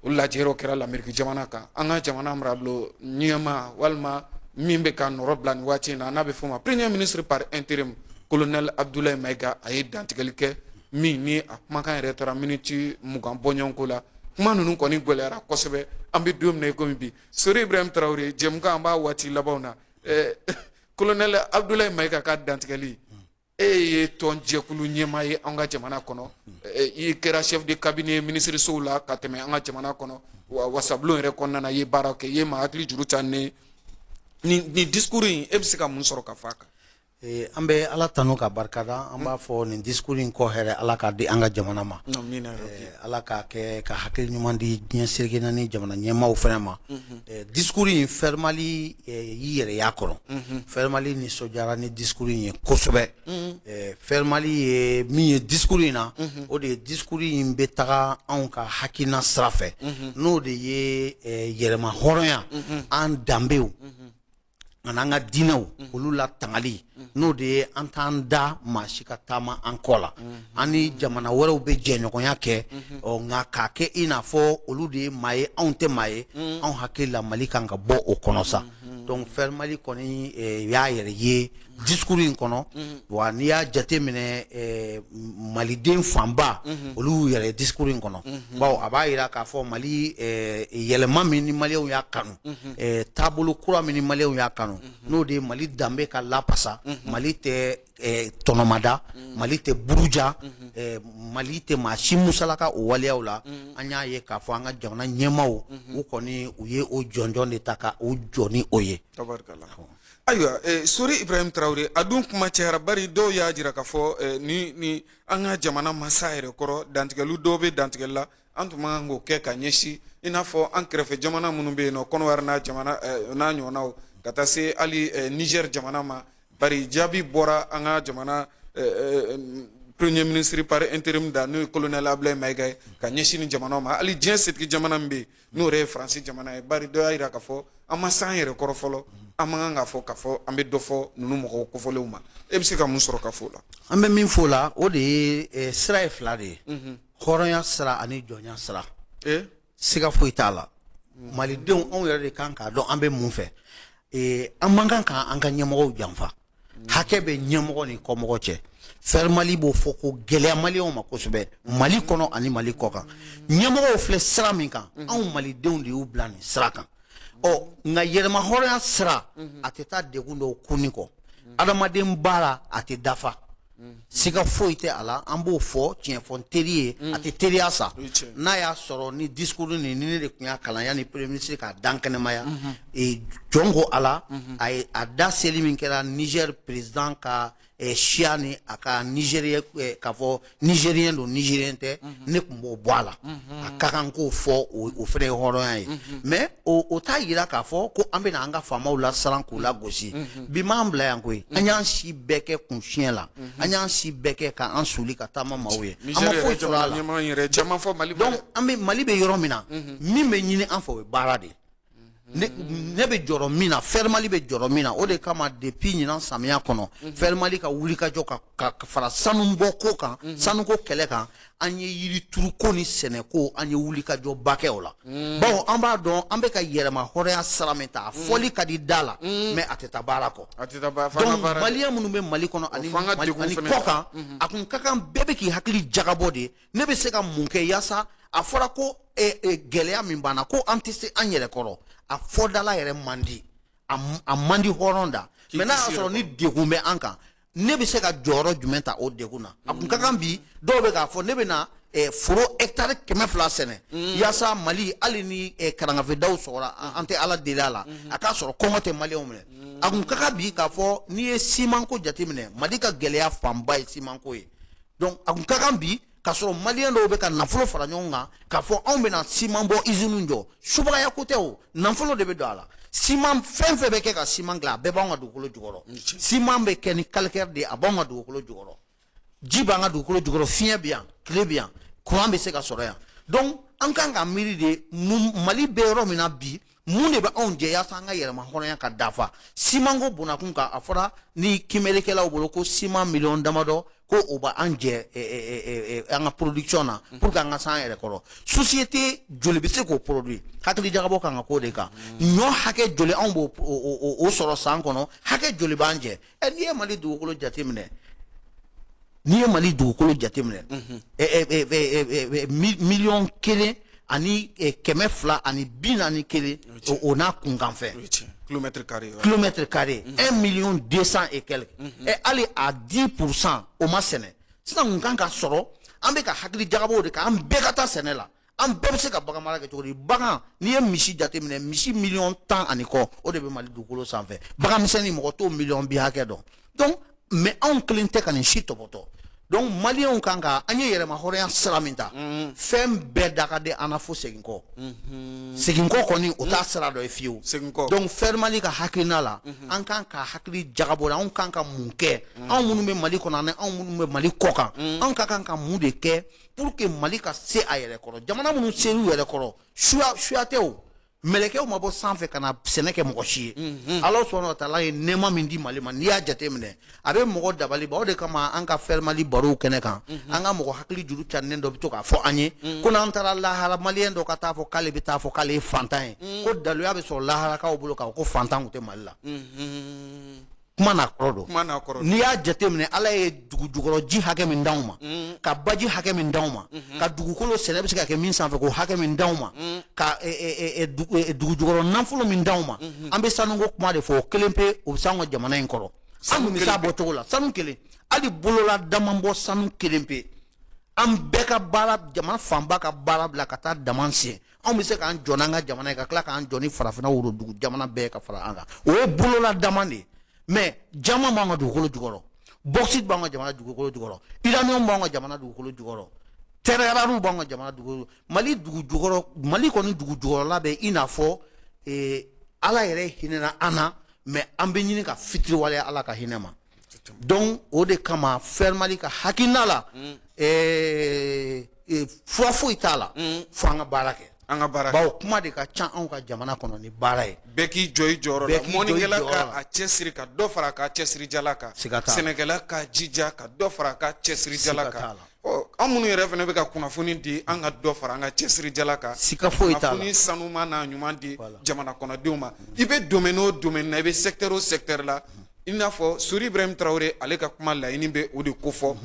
o lajɛyɔrɔ kɛra lameriki jamana kan an ka jamana marabolo ɲɛmaa walima min bɛ ka nɔrɔbila nin waati in na n'a bɛ f'o ma premier ministre par intérim colonel abdoulaye maïga a ye dantigɛli kɛ min ni a kumakan yɛrɛ taara miniti mugan bɔɲɔgɔnko la kuma ninnu kɔni gɛlɛyara kosɛbɛ an bɛ don min na i komi bi sori ibrahim tarawele jɛmukan an b'a waati labanw na eh, kolonɛli abudulayi mayiga ka dantigɛli e ye tɔn jɛkulu ɲɛmaa ye an ka jamana kɔnɔ eh, i kɛra chef de cabinet minisirisow la ka tɛmɛ an ka jamana kɔnɔ wa wasabulon yɛrɛ kɔnɔna na i ye baara kɛ i ye maa hakili juru ta ni nin discours in e bɛ se ka mun sɔrɔ ka fɔ a kan Eh, an bɛ ala tanu k'a barika da an b'a fɔ nin discours in kɔ hɛrɛ ala k'a di an ka jamana ma eh, ala k'a kɛ ka hakili ɲuman di diɲɛ seleke naani jamana ɲɛmaaw fana ma mhm. eh, discours in fɛrimali y'i yɛrɛ y'a kɔnɔ mhm. fɛrimali nisɔndiyara ni discours in ye kosɛbɛ mhm. fɛrimali ye min ye discours in na o de ye discours in bɛ taga anw ka hakilina sira fɛ n'o de ye yɛrɛmahɔrɔnya an danbew ani an ka diinɛw olu latangali n'o de ye an t'an da maa si ka taama an kɔ la an ni jamana wɛrɛw bɛ jɛɲɔgɔnya kɛ ɔ nka k'a kɛ i n'a fɔ olu de ye maa ye anw tɛ maa ye anw hakili la mali kan ka bɔ o kɔnɔ sa donc fɛrimali kɔni eh, y'a yɛrɛ ye discours in kɔnɔ mhm. wa n'i y'a jate minɛ eh, maliden fanba mhm. olu y'u yɛrɛ discours in kɔnɔ mhm. bawo a b'a yira k'a fɔ mali eh, yɛlɛma min ni maliyɛnw y'a kanu eh, taabolo kura min ni maliyɛnw y'a kanu n'o de ye mali danbe ka lapasa mali tɛ eh, tɔnɔmada mali tɛ buruja eh, mali tɛ maa si musalaka o waleyaw la an y'a ye k'a fɔ an ka jamana ɲɛmaaw u kɔni u ye o jɔnjɔn de ta ka u jɔ ni o ye ayiwa eh, sori ibrahim tarawele a dun kuma cayara bari dɔw y'a jira k'a fɔ eh, ni ni an ka jamana ma se a yɛrɛ kɔrɔ dantigɛli dɔw bɛ dantigɛli la an tun man kan k'o kɛ ka ɲɛsin i n'a fɔ an kɛrɛfɛ jamana minnu bɛ yen n'o kɔnɔwari n'a jamana eh, n'a ɲɔgɔnnaw ka taa se hali eh, niger jamana ma bari jaabi bɔra an ka jamana eh, eh, premier ministre par interim da n'o ye colonel ablaye mayiga ye ka ɲɛsin nin jamanaw ma hali diɲɛ setigi jamana min bɛ yen n'o ye faransi jamana ye bari dɔ y'a jira k'a fɔ an ma s'an yɛrɛ kɔrɔ fɔlɔ an man kan k'a fɔ k'a fɔ an bɛ dɔ fɔ ninnu mɔgɔw kofɔlenw ma e bɛ se ka mun sɔrɔ ka fɔ o la an bɛ min fɔ o la o de ye eh, sira ye fila de ye mhm. hɔrɔnya sira ani jɔnya sira eh? siga foyi t'a la mhm. malidenw anw yɛrɛ de ka kan k'a dɔn an bɛ mun fɛ eh, an man kan ka an ka ɲɛmɔgɔw janfa hakɛ bɛ ɲɛmɔgɔ ni kɔmɔgɔ cɛ fɛrimali b'o fɔ k'o gɛlɛya maliyɛnw ma kosɛbɛ mali kɔnɔ ani mali kɔ kan ɲɛmɔgɔw filɛ sira min kan mhm. anw malidenw de y'u bila nin sira kan ɔ nka yɛrɛmahɔrɔnya sira mhm. a tɛ taa degun dɔw kunni kɔ mhm. adamaden baara a tɛ dafa siga foyi tɛ a la an b'o fɔ tiɲɛ fɔ teri ye a tɛ teriya sa n'a y'a sɔrɔ ni discours nin ni ne de tun y'a kalan yanni premier ministre k'a dankɛnɛmaya jɔn ko a la a ye a da seli min kɛra Niger président ka siya ni a ka nizeriyɛnya k'a fɔ nizeriyɛn don nizeriyɛn tɛ ne tun b'o bɔ a la a ka kan k'o fɔ o fana ye hɔrɔnya ye mais o t'a yira k'a fɔ ko an bɛna an ka faamaw lasiran k'u lagosi bi m'an bila yan koyi an y'an si bɛɛ kɛ kunsiɲɛ la an y'an si bɛɛ kɛ ka an suuli ka taama maaw ye an ma foyi sɔrɔ a la donc an bɛ mali bɛ yɔrɔ min na min bɛ ɲini an fɛ o ye baara de ye ne ne bɛ jɔrɔ min na fɛrimali bɛ jɔrɔ min na o de kama depuis ɲinan samiya kɔnɔ fɛrimali ka wulikajɔ ka ka fara sanubɔ ko kan sanuko kɛlɛ kan an ye yirituruko ni sɛnɛko an ye wulikajɔba kɛ o la mm. bawo an b'a dɔn an bɛ ka yɛrɛmahɔrɔnya sira min ta a mm. fɔli ka di da la mm. mais a tɛ taa baara kɔ donc maliyɛn minnu bɛ mali kɔnɔ ani kɔ kan mm-hmm. a kun ka kan bɛɛ bɛ k'i hakili jagabɔ de ne bɛ se ka mun kɛ yaasa a fɔra ko eh, eh, gɛlɛya min b'an na ko an tɛ se an yɛrɛ kɔrɔ a fɔ da la yɛrɛ man di a man di hɔrɔn da mais n'a y'a sɔrɔ ni degun bɛ an kan ne bɛ se ka jɔyɔrɔ jumɛn ta o degun na a kun ka kan bi dɔw bɛ k'a fɔ ne bɛ na eh, foro hectare kɛmɛ fila sɛnɛ mm. yaasa mali hali ni eh, karangafedaw sɔgɔra an tɛ ala deli a la mm-hmm. a k'a sɔrɔ kɔngɔ tɛ maliyɛnw minɛ mm. a kun ka kan bi k'a fɔ n'i ye simanko jateminɛ mali ka gɛlɛya fanba ye simanko ye donc a kun ka kan bi k'a sɔrɔ maliyɛn dɔw bɛ ka nafolo fara ɲɔgɔn kan k'a fɔ anw bɛna siman bɔ iziniw jɔ subagaya ko tɛ o nafolo de bɛ don a la siman fɛn fɛn bɛ kɛ ka siman dilan a bɛɛ b'anw ka dugukolo jukɔrɔ siman bɛ kɛ ni calcaire de ye a b'anw ka dugukolo jukɔrɔ ji b'an ka dugukolo jukɔrɔ fiɲɛ bɛ yan tile bɛ yan kuran bɛ se ka sɔrɔ yan donc an kan ka miiri de mali bɛ yɔrɔ min na bi mun de bɛ anw jɛ yaasa an ka yɛrɛma hɔrɔnya ka dafa simanko bonakun kan a fɔra ni kimerekɛlaw bolo ko siman miliyɔn damadɔ ko o bɛ an jɛ eh, eh, eh, an ka production na mhm. pour que an ka s'an yɛrɛ kɔrɔ société joli bɛ se k'o produit hakili jagabɔ kan ka k'o de kan mhm. ɲɔ hakɛ joli anw b'o sɔrɔ san kɔnɔ hakɛ joli b'an jɛ ɛ n'i ye mali dugukolo jateminɛ n'i ye mali dugukolo jateminɛ miliyɔn kelen ani kɛmɛ fila ani bi naani kelen o n'a kunkanfɛn kilomètre carré un million deux cent et quelques hali a dix pour cent o ma sɛnɛ sisan kun kan ka sɔrɔ an bɛ ka hakili jagabɔ o de kan an bɛɛ ka taa sɛnɛ la an bɛɛ bɛ se ka bagan mara kɛ cogo di bagan n'i ye misi jateminɛ misi miliyɔn tan ani kɔ o de bɛ mali dugukolo sanfɛ bagan misɛnnin mɔgɔ t'o miliyɔn bi hakɛ dɔn donc mais anw kelen tɛ ka nin si tɔpɔtɔ donc maliyɛnw kan ka an ye yɛrɛma hɔrɔnya sira min ta mm-hmm. fɛn bɛɛ da ka di an na fo seginkɔ mm-hmm. seginkɔ kɔni o t'a mm-hmm. sira dɔ ye fiyewu donc fɛrimali ka hakilina la an kan ka hakili jagabɔ de anw kan ka mun kɛ anw minnu bɛ mali kɔnɔ ani anw minnu bɛ mali kɔ kan anw ka kan ka mun de kɛ pour que mali ka se a yɛrɛ kɔrɔ jamana minnu ser'u yɛrɛ kɔrɔ suya suya tɛ o mɛlɛkɛw ma bɔ sanfɛ ka na sɛnɛ kɛ mɔgɔ si ye mhm. ala subhanahu wa taala ye nɛɛma min di mali ma n'i y'a jateminɛ a bɛ mɔgɔ dabali ban o de kama an ka fɛrimali barow kɛnɛ kan mhm. an ka mɔgɔ hakili juru carinen dɔ bɛ to k'a fɔ an ye mhm. ko n'an taara lahara maliyɛn dɔ ka taa fɔ k'ale bɛ taa fɔ k'ale ye fantan ye ko daluya bɛ sɔrɔ laharakaw bolo k'a fɔ ko fantan tun tɛ mali la kuma n'a kɔrɔ don kuma n'a kɔrɔ n'i y'a jateminɛ ala ye dugu jukɔrɔ ji hakɛ min d'anw ma mm. ka baji hakɛ min d'anw ma mm-hmm. ka dugukolo sɛnɛ bɛ se ka kɛ min sanfɛ k'o hakɛ min d'anw ma mm. ka e, e, e, dugu jukɔrɔ nafolo min d'anw ma mm-hmm. an bɛ sanuko kuma de fɔ o kelen pe o bɛ se anw ka jamana in kɔrɔ an tun bɛ se a bɔcogo la sanu kelen hali bolola damanbɔ sanu kelen pe an bɛɛ ka baara jamana fanba ka baara bila ka taa daman sen anw bɛ se k'an jɔ n'an ka jamana ye ka tila k'an jɔ ni farafinna worodugu jamana bɛɛ ka fara an kan o ye bolola daman de ye mais jaman b'an ka dugukolo jukɔrɔ bauxite b'an ka jamana dugukolo jukɔrɔ uranium b'an ka jamana dugukolo jukɔrɔ terres rares b'an ka jamana dugukolo mali dugu jukɔrɔ mali kɔni dugu jukɔrɔla bɛ i n'a fɔ ala yɛrɛ hinɛna an na mais an bɛ ɲini ka fitiriwaleya ala ka hinɛ ma donc o de kama fɛrimali ka hakilina la mm. eh, eh, fura foyi t'a la mm. fo an ka baara kɛ an ka baara bawo kuma de ka ca anw ka jamana kɔnɔ ni baara ye bɛɛ k'i jɔ i jɔyɔrɔ la mɔnikɛla ka a cɛsiri ka dɔ fara a ka cɛsirijala kan sɛnɛkɛla ka jija ka dɔ fara a ka cɛsirijala kan an minnu yɛrɛ fana bɛ ka kunnafoni di an ka dɔ fara an ka cɛsirijala kan kunnafoni sanuma n'a ɲuman di jamana kɔnɔdenw ma i bɛ domaine o domaine na i bɛ secteur o secteur la i n'a fɔ Sori Ibrahim Traore ale ka kuma laɲini bɛ o de kofɔ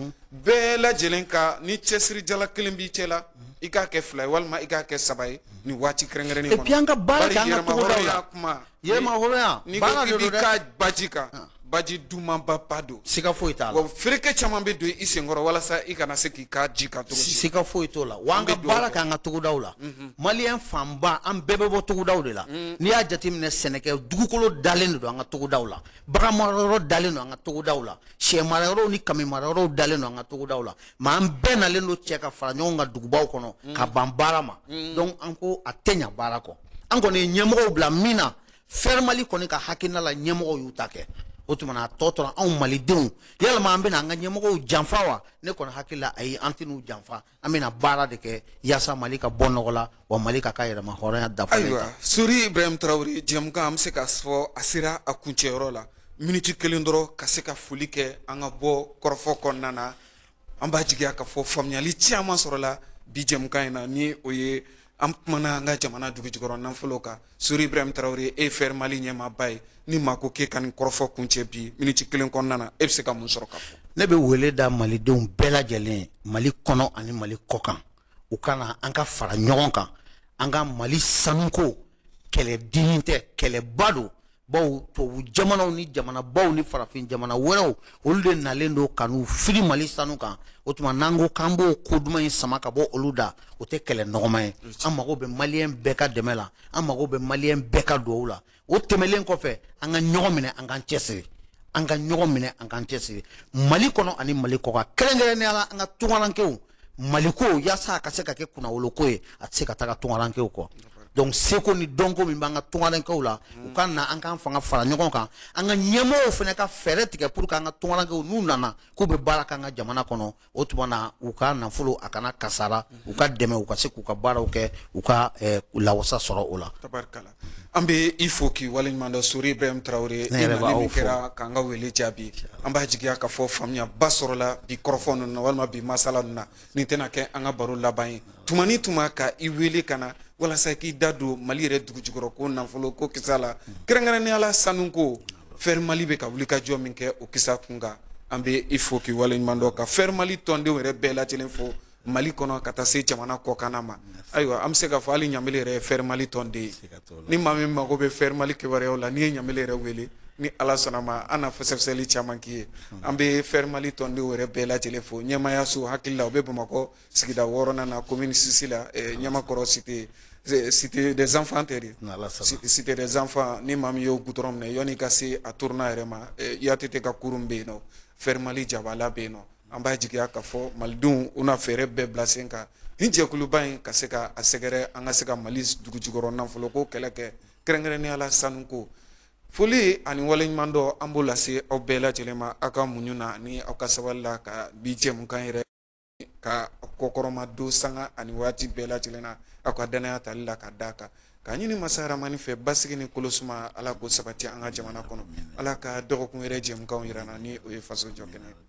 bɛɛ lajɛlen ka ni cɛsirijala kelen b'i cɛ la i k'a kɛ fila ye walima i k'a kɛ saba ye nin waati kɛrɛnkɛrɛnnen kɔnɔ et puis an ka baara kɛ an ka togodaw la yɛrɛma hɔrɔnya n'i ko k'i b'i ka baji kan ah. baji dumanba ba don siga foyi t'a la wa fereke caman bɛ don i senkɔrɔ walasa i kana se k'i ka ji kan cogo si siga foyi t'o la wa an ka baara k'an ka togodaw la mhm. maliyɛn fanba an bɛɛ bɛ bɔ togodaw de la mhm. n'i y'a jateminɛ sɛnɛkɛ dugukolo dalen de don an ka togodaw la bagan marayɔrɔ dalen don an ka togodaw la sɛ marayɔrɔw ni kami marayɔrɔw dalen don an ka togodaw la mɛ an bɛɛ nalen don cɛ ka fara ɲɔgɔn kan dugubaw kɔnɔ mhm. ka ban baara ma donc an ko a tɛ ɲa baara kɔ an kɔni ye ɲɛmɔgɔw bila min na fɛrɛmali kɔni ka hakilina la ɲɛmɔgɔw y'u ta kɛ o tuma na a tɔ tora anw malidenw yalama an bɛna an ka ɲɛmɔgɔw janfa wa ne kɔni hakili la ayi an tɛn'u janfa an bɛna baara de kɛ yaasa mali ka bɔ nɔgɔ la wa mali k'a ka yɛrɛma hɔrɔnya dafa ayiwa sori ibrahim tarawele jɛmukan an bɛ se k'a fɔ a sera a kuncɛyɔrɔ la miniti kelen dɔrɔn ka se ka foli kɛ an ka bɔ kɔrɔfɔ kɔnɔna na an b'a jigiya k'a fɔ faamuyali caman sɔrɔla bi jɛmukan in na ni o ye an kumana an ka jamana dugujukɔrɔ nafolo kan sori ibrahim tarawele e fɛr mali ɲɛmaaba ye ni maa ko k'e ka nin kɔrɔfɔ kuncɛ bi miniti kelen kɔnɔna na e bɛ se ka mun sɔrɔ k'a fɔ ne bɛ wele da malidenw bɛɛ lajɛlen mali kɔnɔ ani mali kɔkan u ka na an ka fara ɲɔgɔn kan an ka mali sanuko kɛlɛ dennin tɛ kɛlɛba don bawo tubabu jamanaw ni jamana baw ni farafin jamana wɛrɛw olu de nalen don ka n'u fili mali sanu kan o tuma n'an ko k'an b'o ko duman in sama ka bɔ olu da o tɛ kɛlɛ nɔgɔma ye an mago bɛ maliyɛn bɛɛ ka dɛmɛ la an mago bɛ maliyɛn bɛɛ ka duwawu la o tɛmɛlen kɔfɛ an ka ɲɔgɔn minɛ an k'an cɛsiri an ka ɲɔgɔn minɛ an k'an cɛsiri mali kɔnɔ ani mali kɔkan kɛrɛnkɛrɛnnenya la an ka tungarankew maliko yaasa a ka se ka kɛ kunnawoloko ye a tɛ se ka taga tungarankew kɔ donc seko ni dɔnko min b'an ka tungarankew la u ka na an k'an fanga fara ɲɔgɔn kan an ka ɲɛmɔgɔw fana ka fɛɛrɛ tigɛ pour que an ka tungarankew n'u nana k'u bɛ baara k'an ka jamana kɔnɔ o tuma na u ka nafolo a kana kasara u ka dɛmɛ u ka se k'u ka baaraw kɛ u ka eh, lawasa sɔrɔ o la tabarikala an bɛ i fo k'i waleɲuman dɔn Sori Ibrahim Tarawele, i nali min kɛra k'an ka wele jaabi, an b'a jigiya k'a fɔ faamuyaba sɔrɔla bi kɔrɔfɔ ninnu na walima bi masala ninnu na, nin tɛna kɛ an ka baro laban ye, tuma ni tuma ka i wele ka na walasa k'i da don Mali yɛrɛ dugujukɔrɔko nafoloko kisa la, kɛrɛnkɛrɛnnenya la sanuko, FER Mali bɛ ka wulikajɔ min kɛ o kisa kunkan, an bɛ i fo k'i waleɲuman dɔn ka FER Mali tɔndenw yɛrɛ bɛɛ lajɛlen fo mali kɔnɔ ka taa se jamana kɔkanna ma ayiwa an bɛ se k'a fɔ hali ɲamele yɛrɛ ye fɛri mali tɔnden ye ni maa min mago bɛ fɛri mali kibaruyaw la n'i ye ɲamele yɛrɛ wele ni ala sɔnn'a ma an na fɛsɛfɛsɛli caman k'i ye an bɛ fɛri mali tɔndenw yɛrɛ bɛɛ lajɛlen fo ɲɛmaayaso hakili la u bɛ bamakɔ sigida wɔɔrɔnan na komini sisi la ɲamakɔrɔ cité cité des enfants tɛ dɛ cité des enfants ni maa min y'o gudɔrɔn minɛ yanni i ka se a turunan yɛrɛ ma ATT ka kurun bɛ yen nɔ fɛri mali jabala bɛ yen nɔ an b'a jigiya k'a fɔ malidenw u na fɛɛrɛ bɛɛ bila sen kan nin jɛkuluba in ka se ka a sɛgɛrɛ an ka se ka mali dugujukɔrɔ nafolo ko kɛlɛ kɛ kɛrɛnkɛrɛnnenya la sanuko foli ani waleɲumandɔn an b'o lase aw bɛɛ lajɛlen ma aw ka muɲu na ni aw ka sabali la ka bi jɛmukan yɛrɛ ka kɔkɔrɔmadon sanga ani waati bɛɛ lajɛlen na aw ka danaya tali la ka d'a kan k'a ɲini masa rahamani fɛ basigi ni kolosuma ala k'o sabati an ka jamana kɔnɔ ala ka dɔgɔkun yɛrɛ jɛmukan jira an na ni o ye faso jɔ kɛnɛ